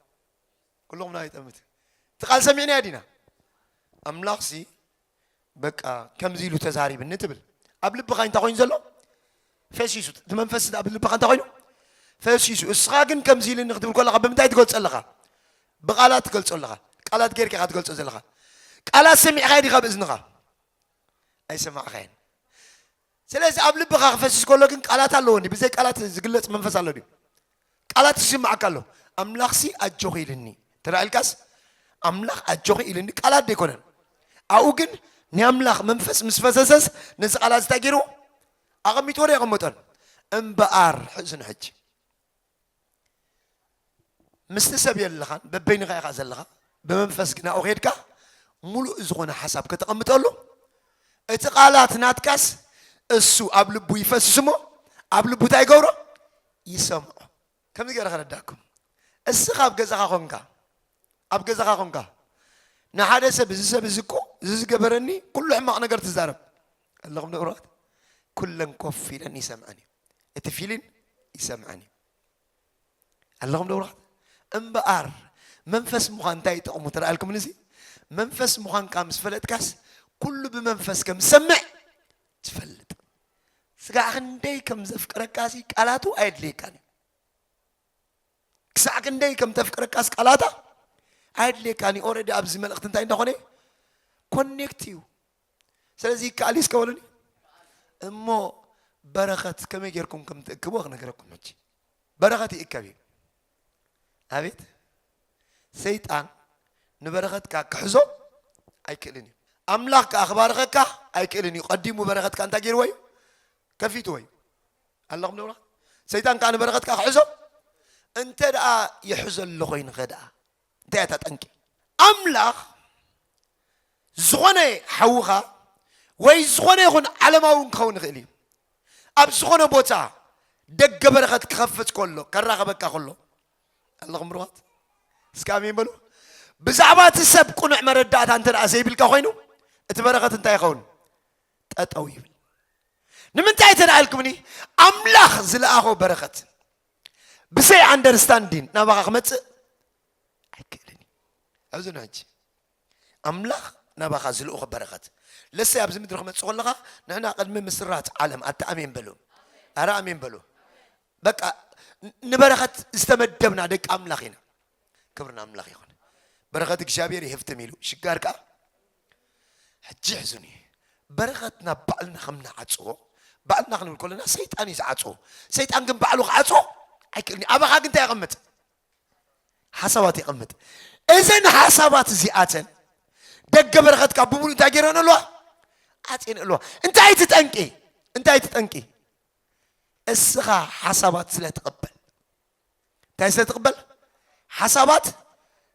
ኩልኹም ናይ ጠምት እቲ ቃል ሰሚዕና የዲና ኣምላኽ ሲ በቃ ከምዚ ኢሉ ተዛሪብኒ ትብል ኣብ ልብኻ እንታይ ኮይኑ ዘሎ ፈሲሱ እቲ መንፈስ እቲ ኣብልብኻ እንታይ ኮይኑ ፈሲሱ እስኻ ግን ከምዚ ኢልኒ ክትብል ከለኻ ብምንታይ ትገልጾ ኣለኻ ብቓላት ትገልጾ ኣለኻ ቃላት ጌርካ ኢኻ ትገልጾ ዘለኻ ቃላት ሰሚዕኻዮ ዲኻ ብእዝንኻ ኣይሰማዕኻየን ስለዚ ኣብ ልብኻ ክፈስስ ከሎ ግን ቃላት ኣለዎ እንዲ ብዘይ ቃላት ዝግለጽ መንፈስ ኣሎ ድዩ ቃላት ይስማዓካ ኣሎ ኣምላኽሲ ኣጆኺ ኢልኒ ተራኢልካስ ኣምላኽ ኣጆኺ ኢልኒ ቃላት ደይኮነን ኣብኡ ግን ናይ ኣምላኽ መንፈስ ምስ ፈሰሰስ ነዚ ቃላት እንታይ ገይሩ ኣቐሚጥዎ ዶ ኣይቐመጦን? እምበኣር ሕዝን ሕጂ ምስቲ ሰብ የለኻን፣ በበይንኻ ኢኻ ዘለኻ፣ ብመንፈስ ግን ኣብኡ ኬድካ ሙሉእ ዝኾነ ሓሳብ ከተቐምጠሉ እቲ ቃላት ናትካስ እሱ ኣብ ልቡ ይፈስስ እሞ ኣብ ልቡ እንታይ ይገብሮ ይሰምዖ። ከምዚ ገይረ ከረዳኩም እስኻ ኣብ ገዛኻ ኮንካ ኣብ ገዛኻ ኮንካ ንሓደ ሰብ እዚ ሰብ እዚ እኮ እዚ ዝገበረኒ ኩሉ ሕማቕ ነገር ትዛረብ ኣለኹም ንብረት ኩለን ኮፍ ኢለን ይሰምዐን እዩ እቲ ፊሊን ይሰምዐን እዩ ኣለኹም ንብረት እምበኣር መንፈስ ምዃን እንታይ ይጠቕሙ ተረኣልኩም ንዚ መንፈስ ምዃንካ ምስ ፈለጥካስ ኩሉ ብመንፈስ ከም ዝሰምዕ ትፈልጥ ስጋ ክንደይ ከም ዘፍቅረካ ሲ ቃላቱ ኣየድልየካን እዩ ክሳዕ ክንደይ ከም ተፍቅረካስ ቃላታ ኣየድልየካን እዩ ኦረዲ ኣብዚ መልእኽቲ እንታይ እንዳኾነ ኮኔክት እዩ ስለዚ ይከኣል እዩ እስከበሉኒ እሞ በረኸት ከመይ ጌርኩም ከም ትእክብዎ ክነገረኩም ሕጂ በረኸት ይእከብ እዩ ኣቤት ሰይጣን ንበረኸትካ ክሕዞ ኣይክእልን እዩ ኣምላኽ ከዓ ክባርኸካ ኣይክእልን እዩ ቀዲሙ በረኸትካ እንታይ ገይርዎ እዩ ከፊትዎ እዩ ኣለኹም ደብራ ሰይጣን ከዓ ንበረኸትካ ክሕዞ እንተ ደኣ ይሕዘ ኣሎ ኮይንኸ ደኣ እንታይ እያ እታ ጠንቂ? ኣምላኽ ዝኾነ ሓውኻ ወይ ዝኾነ ይኹን ዓለማዊ እውን ክኸውን ይኽእል እዩ ኣብ ዝኾነ ቦታ ደገ በረኸት ክኸፍት ከሎ ከራኸበካ ከሎ ኣለኹም ርዋት እስከ ኣሜን በሉ ብዛዕባ እቲ ሰብ ቁኑዕ መረዳእታ እንተ ደኣ ዘይብልካ ኮይኑ እቲ በረኸት እንታይ ይኸውን ጠጠው ይብል ንምንታይ እንተ ደኣ ኢልኩምኒ ኣምላኽ ዝለኣኾ በረኸት ብዘይ ኣንደርስታንዲን ናባኻ ክመፅእ ኣይክእልን እዩ ኣብዚ ንሕጂ ኣምላኽ ናባኻ ዝልእኾ በረኸት ለሰይ ኣብዚ ምድሪ ክመፅእ ከለኻ ንሕና ቅድሚ ምስራት ዓለም ኣታ ኣሜን በሉ ኣረ ኣሜን በሉ በቃ ንበረኸት ዝተመደብና ደቂ ኣምላኽ ኢና ክብርና ኣምላኽ ይኹን በረኸት እግዚኣብሔር ይህፍትም ኢሉ ሽጋር ከዓ ሕጂ ሕዝኒ በረኸት ናብ ባዕልና ከም ንዓጽዎ ባዕልና ክንብል ከለና ሰይጣን እዩ ዝዓጽዎ ሰይጣን ግን ባዕሉ ክዓጽዎ ኣይክእልኒ ኣባኻ ግን እንታይ የቐምጥ ሓሳባት የቐምጥ እዘን ሓሳባት እዚኣተን ደገ በረኸትካ ብሙሉእ እንታይ ገይረን ኣለዋ ዓፅየን ኣለዋ እንታይ እቲ ጠንቂ እንታይ እቲ ጠንቂ እስኻ ሓሳባት ስለ ትቕበል እንታይ ስለ ትቕበል? ሓሳባት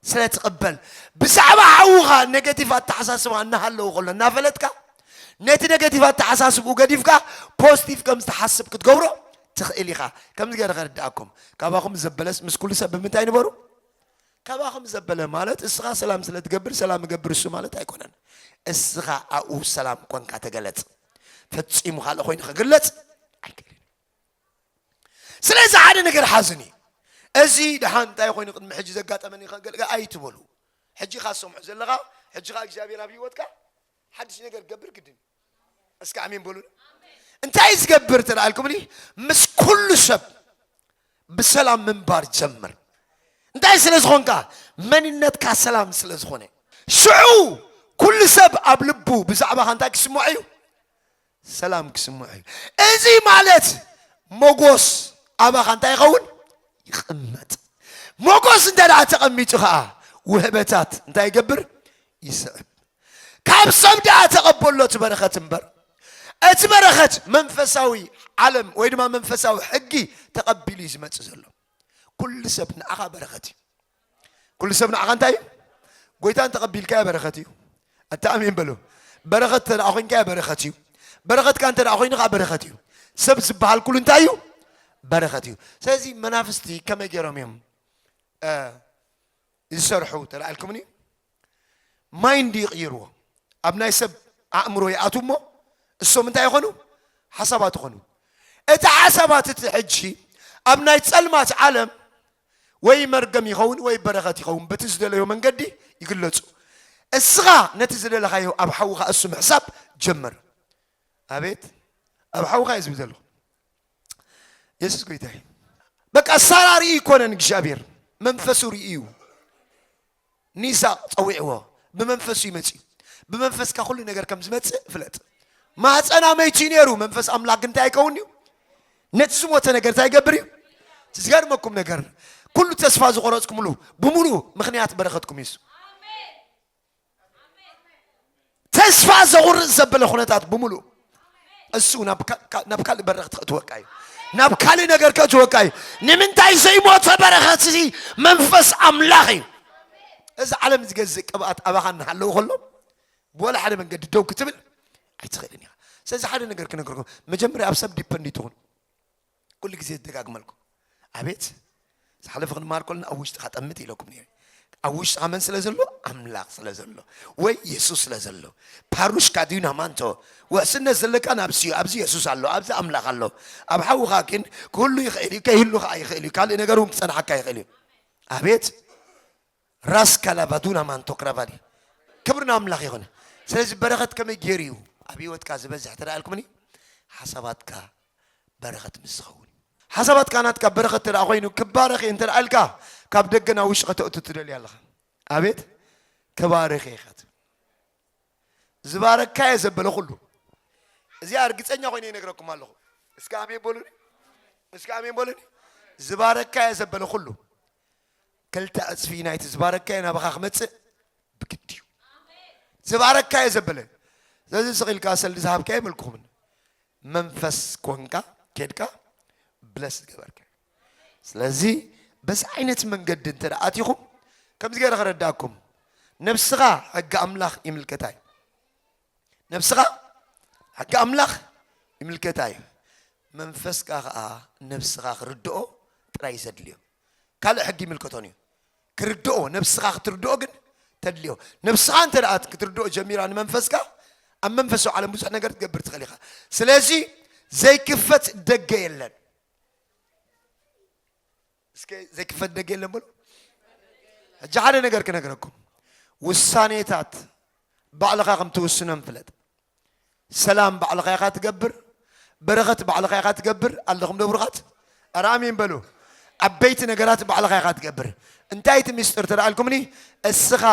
ስለ ትቕበል። ብዛዕባ ሓውኻ ኔጌቲቭ ኣተሓሳስባ እናሃለዎ ከሎ እናፈለጥካ ነቲ ኔጌቲቭ ኣተሓሳስብኡ ገዲፍካ ፖዚቲቭ ከም ዝተሓስብ ክትገብሮ ትኽእል ኢኻ። ከምዚ ገይረ ከርድኣኩም፣ ካባኹም ዘበለስ ምስ ኩሉ ሰብ ብምንታይ ንበሩ? ካባኹም ዘበለ ማለት እስኻ ሰላም ስለ ትገብር ሰላም እገብር እሱ ማለት ኣይኮነን። እስኻ ኣብኡ ሰላም ኮንካ ተገለጽ። ፈጺሙ ካልእ ኮይኑ ክግለጽ ኣይክእልን። ስለዚ ሓደ ነገር ሓዝኒ እዚ ድሓን እንታይ ኮይኑ ቅድሚ ሕጂ ዘጋጠመኒ ከገልጋ ኣይትበሉ ሕጂ ካ ዝሰምዑ ዘለኻ ሕጂ ካ እግዚኣብሔር ኣብ ህይወትካ ሓድሽ ነገር ገብር ግድን እስኪ ኣሜን በሉ እንታይ ዝገብር ተላኣልኩምኒ ምስ ኩሉ ሰብ ብሰላም ምንባር ጀምር እንታይ ስለ ዝኾንካ መንነትካ ሰላም ስለ ዝኾነ ሽዑ ኩሉ ሰብ ኣብ ልቡ ብዛዕባኻ እንታይ ክስምዖ እዩ ሰላም ክስምዖ እዩ። እዚ ማለት ሞጎስ ኣባኻ እንታይ ይኸውን? ይቕመጥ። ሞጎስ እንተ ደኣ ተቐሚጡ ኸኣ ውህበታት እንታይ ይገብር? ይስዕብ። ካብ ሰብ ደኣ ተቐበሎ እቲ በረኸት እምበር እቲ በረኸት መንፈሳዊ ዓለም ወይ ድማ መንፈሳዊ ሕጊ ተቐቢሉ እዩ ዝመጽእ ዘሎ። ኩሉ ሰብ ንኣኻ በረኸት እዩ። ኩሉ ሰብ ንዓኻ እንታይ እዩ ጎይታ እንተቐቢልካዮ በረኸት እዩ ኣታ ኣሜን በሎ በረኸት እንተ ኮይንካዮ በረኸት እዩ በረኸትካ እንተ ኮይኑ ከዓ በረኸት እዩ ሰብ ዝበሃል ኩሉ እንታይ እዩ በረኸት እዩ ስለዚ መናፍስቲ ከመይ ገይሮም እዮም ዝሰርሑ ተላኢልኩምኒ ማይንድ ይቕይርዎ ኣብ ናይ ሰብ ኣእምሮ ይኣት እሞ እሶም እንታይ ይኾኑ ሓሳባት ይኾኑ እቲ ሓሳባት እቲ ሕጂ ኣብ ናይ ፀልማት ዓለም ወይ መርገም ይኸውን ወይ በረኸት ይኸውን በቲ ዝደለዮ መንገዲ ይግለጹ እስኻ ነቲ ዝደለኻዮ ኣብ ሓውኻ እሱ ምሕሳብ ጀምር ኣቤት ኣብ ሓውኻ እዩ ዝብል ዘለኹ የሱስ ጎይታ እዩ በቃ ሳራ ርኢ ይኮነን እግዚኣብሔር መንፈሱ ርኢ እዩ ንይስሃቅ ጸዊዕዎ ብመንፈስ እዩ መጺኡ ብመንፈስካ ኩሉ ነገር ከም ዝመጽእ ፍለጥ ማህፀና መይቱ እዩ ነይሩ መንፈስ ኣምላክ ግን እንታይ ኣይከውን እዩ ነቲ ዝሞተ ነገር እንታይ ይገብር እዩ እቲ ዝገርመኩም ነገር ኩሉ ተስፋ ዝቆረፅኩምሉ ብምሉእ ምክንያት በረከትኩም እዩ እሱ። ተስፋ ዘቑርጽ ዘበለ ኩነታት ብምሉእ እሱ ናብ ካልእ በረኽ ትኸእትወካ እዩ ናብ ካልእ ነገር ከእትወካ እዩ ንምንታይ ዘይሞተ በረኸት እዚ መንፈስ ኣምላኽ እዩ እዚ ዓለም ዝገዝእ ቅብኣት ኣባኻ እናሃለዉ ከሎ ብወላ ሓደ መንገዲ ደው ክትብል ኣይትኽእልን ኢኻ ስለዚ ሓደ ነገር ክነገርኩም መጀመርያ ኣብ ሰብ ዲፐንዲት ትኹን ኩሉ ግዜ ዝደጋግመልኩም ኣቤት ዝሓለፈ ክንመሃር ከለና ኣብ ውሽጥኻ ጠምት ኢለኩም ነይረ ኣብ ውሽጥኻ መን ስለ ዘሎ ኣምላኽ ስለ ዘሎ ወይ የሱስ ስለ ዘሎ ፓሩሽካ ድዩ ናማንቶ ውሕስነት ዘለካ ናብዚ እዩ ኣብዚ የሱስ ኣሎ ኣብዚ ኣምላኽ ኣሎ ኣብ ሓውኻ ግን ክህሉ ይኽእል እዩ ከይህሉ ከዓ ይኽእል እዩ ካልእ ነገር እውን ክፀናሓካ ይኽእል እዩ ኣቤት ራስ ካላቫዱና ማንቶ ክራቫሊ ክብሪ ንኣምላኽ ይኹን ስለዚ በረኸት ከመይ ገይሩ እዩ ኣብ ህይወትካ ዝበዝሕ ተደኣልኩምኒ ሓሳባትካ በረኸት ምስ ዝኸውን ሓሳባትካ ናትካ በረኸት ተደኣ ኮይኑ ክባረኽ እየ እንተደኣ ኢልካ ካብ ደገ ናብ ውሽጢ ከተእቱ ትደልዩ ኣለኻ ኣቤት ተባረኸ ኢኻ ትብል ዝባረካ እየ ዘበለ ኩሉ እዚኣ እርግፀኛ ኮይነ ይነግረኩም ኣለኹ እስከ ኣሜን በሉኒ እስከ ኣሜን በሉኒ ዝባረካ እየ ዘበለ ኩሉ ክልተ ዕጽፊ ናይቲ ዝባረካዮ ናባኻ ክመጽእ ብግዲ እዩ ዝባረካዮ ዘበለ ስለዚ ስቕ ኢልካ ሰልዲ ዝሃብካዮ መልክኹምን መንፈስ ኮንካ ኬድካ ብለስ ዝገበርካ ስለዚ በዚ ዓይነት መንገዲ እንተ ኣቲኹም ከምዚ ገይረ ክረዳእኩም ነብስኻ ሕጊ ኣምላኽ ይምልከታ እዩ ነብስኻ ሕጊ ኣምላኽ ይምልከታ እዩ መንፈስካ ከዓ ነብስኻ ክርድኦ ጥራይ ዘድልዮ ካልእ ሕጊ ይምልከቶን እዩ ክርድኦ ነብስኻ ክትርድኦ ግን ተድልዮ ነብስኻ እንተ ክትርድኦ ጀሚራ ንመንፈስካ ኣብ መንፈሳዊ ዓለም ብዙሕ ነገር ትገብር ትኽእል ኢኻ ስለዚ ዘይክፈት ደገ የለን እስከ ዘይክፈት ደገ የለን በሉ ሕጂ ሓደ ነገር ክነግረኩም ውሳኔታት ባዕልኻ ከም ትውስኖም ፍለጥ። ሰላም ባዕልኻ ኢኻ ትገብር፣ በረኸት ባዕልኻ ኢኻ ትገብር። ኣለኹም ዶ ብሩኻት? ኧረ ኣሜን በሉ። ዓበይቲ ነገራት ባዕልኻ ኢኻ ትገብር። እንታይ እቲ ምስጢር ተደኣልኩምኒ? እስኻ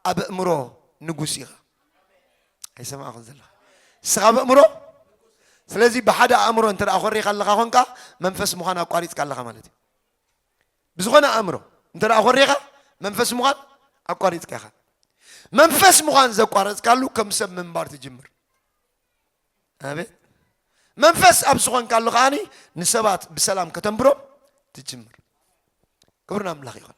ኣብ እእምሮ ንጉስ ኢኻ። ኣይሰማዕኹን ዘለኻ እስኻ ኣብ እእምሮ ስለዚ ብሓደ ኣእምሮ እንተ ኮሪኻ ኣለኻ ኮንካ መንፈስ ምዃን ኣቋሪፅካ ኣለኻ ማለት እዩ። ብዝኾነ ኣእምሮ እንተ ኾሪኻ መንፈስ ምዃን ኣቋሪጽካ ኢኻ። መንፈስ ምዃን ዘቋረጽካሉ ከም ሰብ ምንባር ትጅምር። ኣቤት መንፈስ ኣብ ዝኾንካሉ ከዓኒ ንሰባት ብሰላም ከተንብሮም ትጅምር። ክብርን ኣምላኽ ይኹን።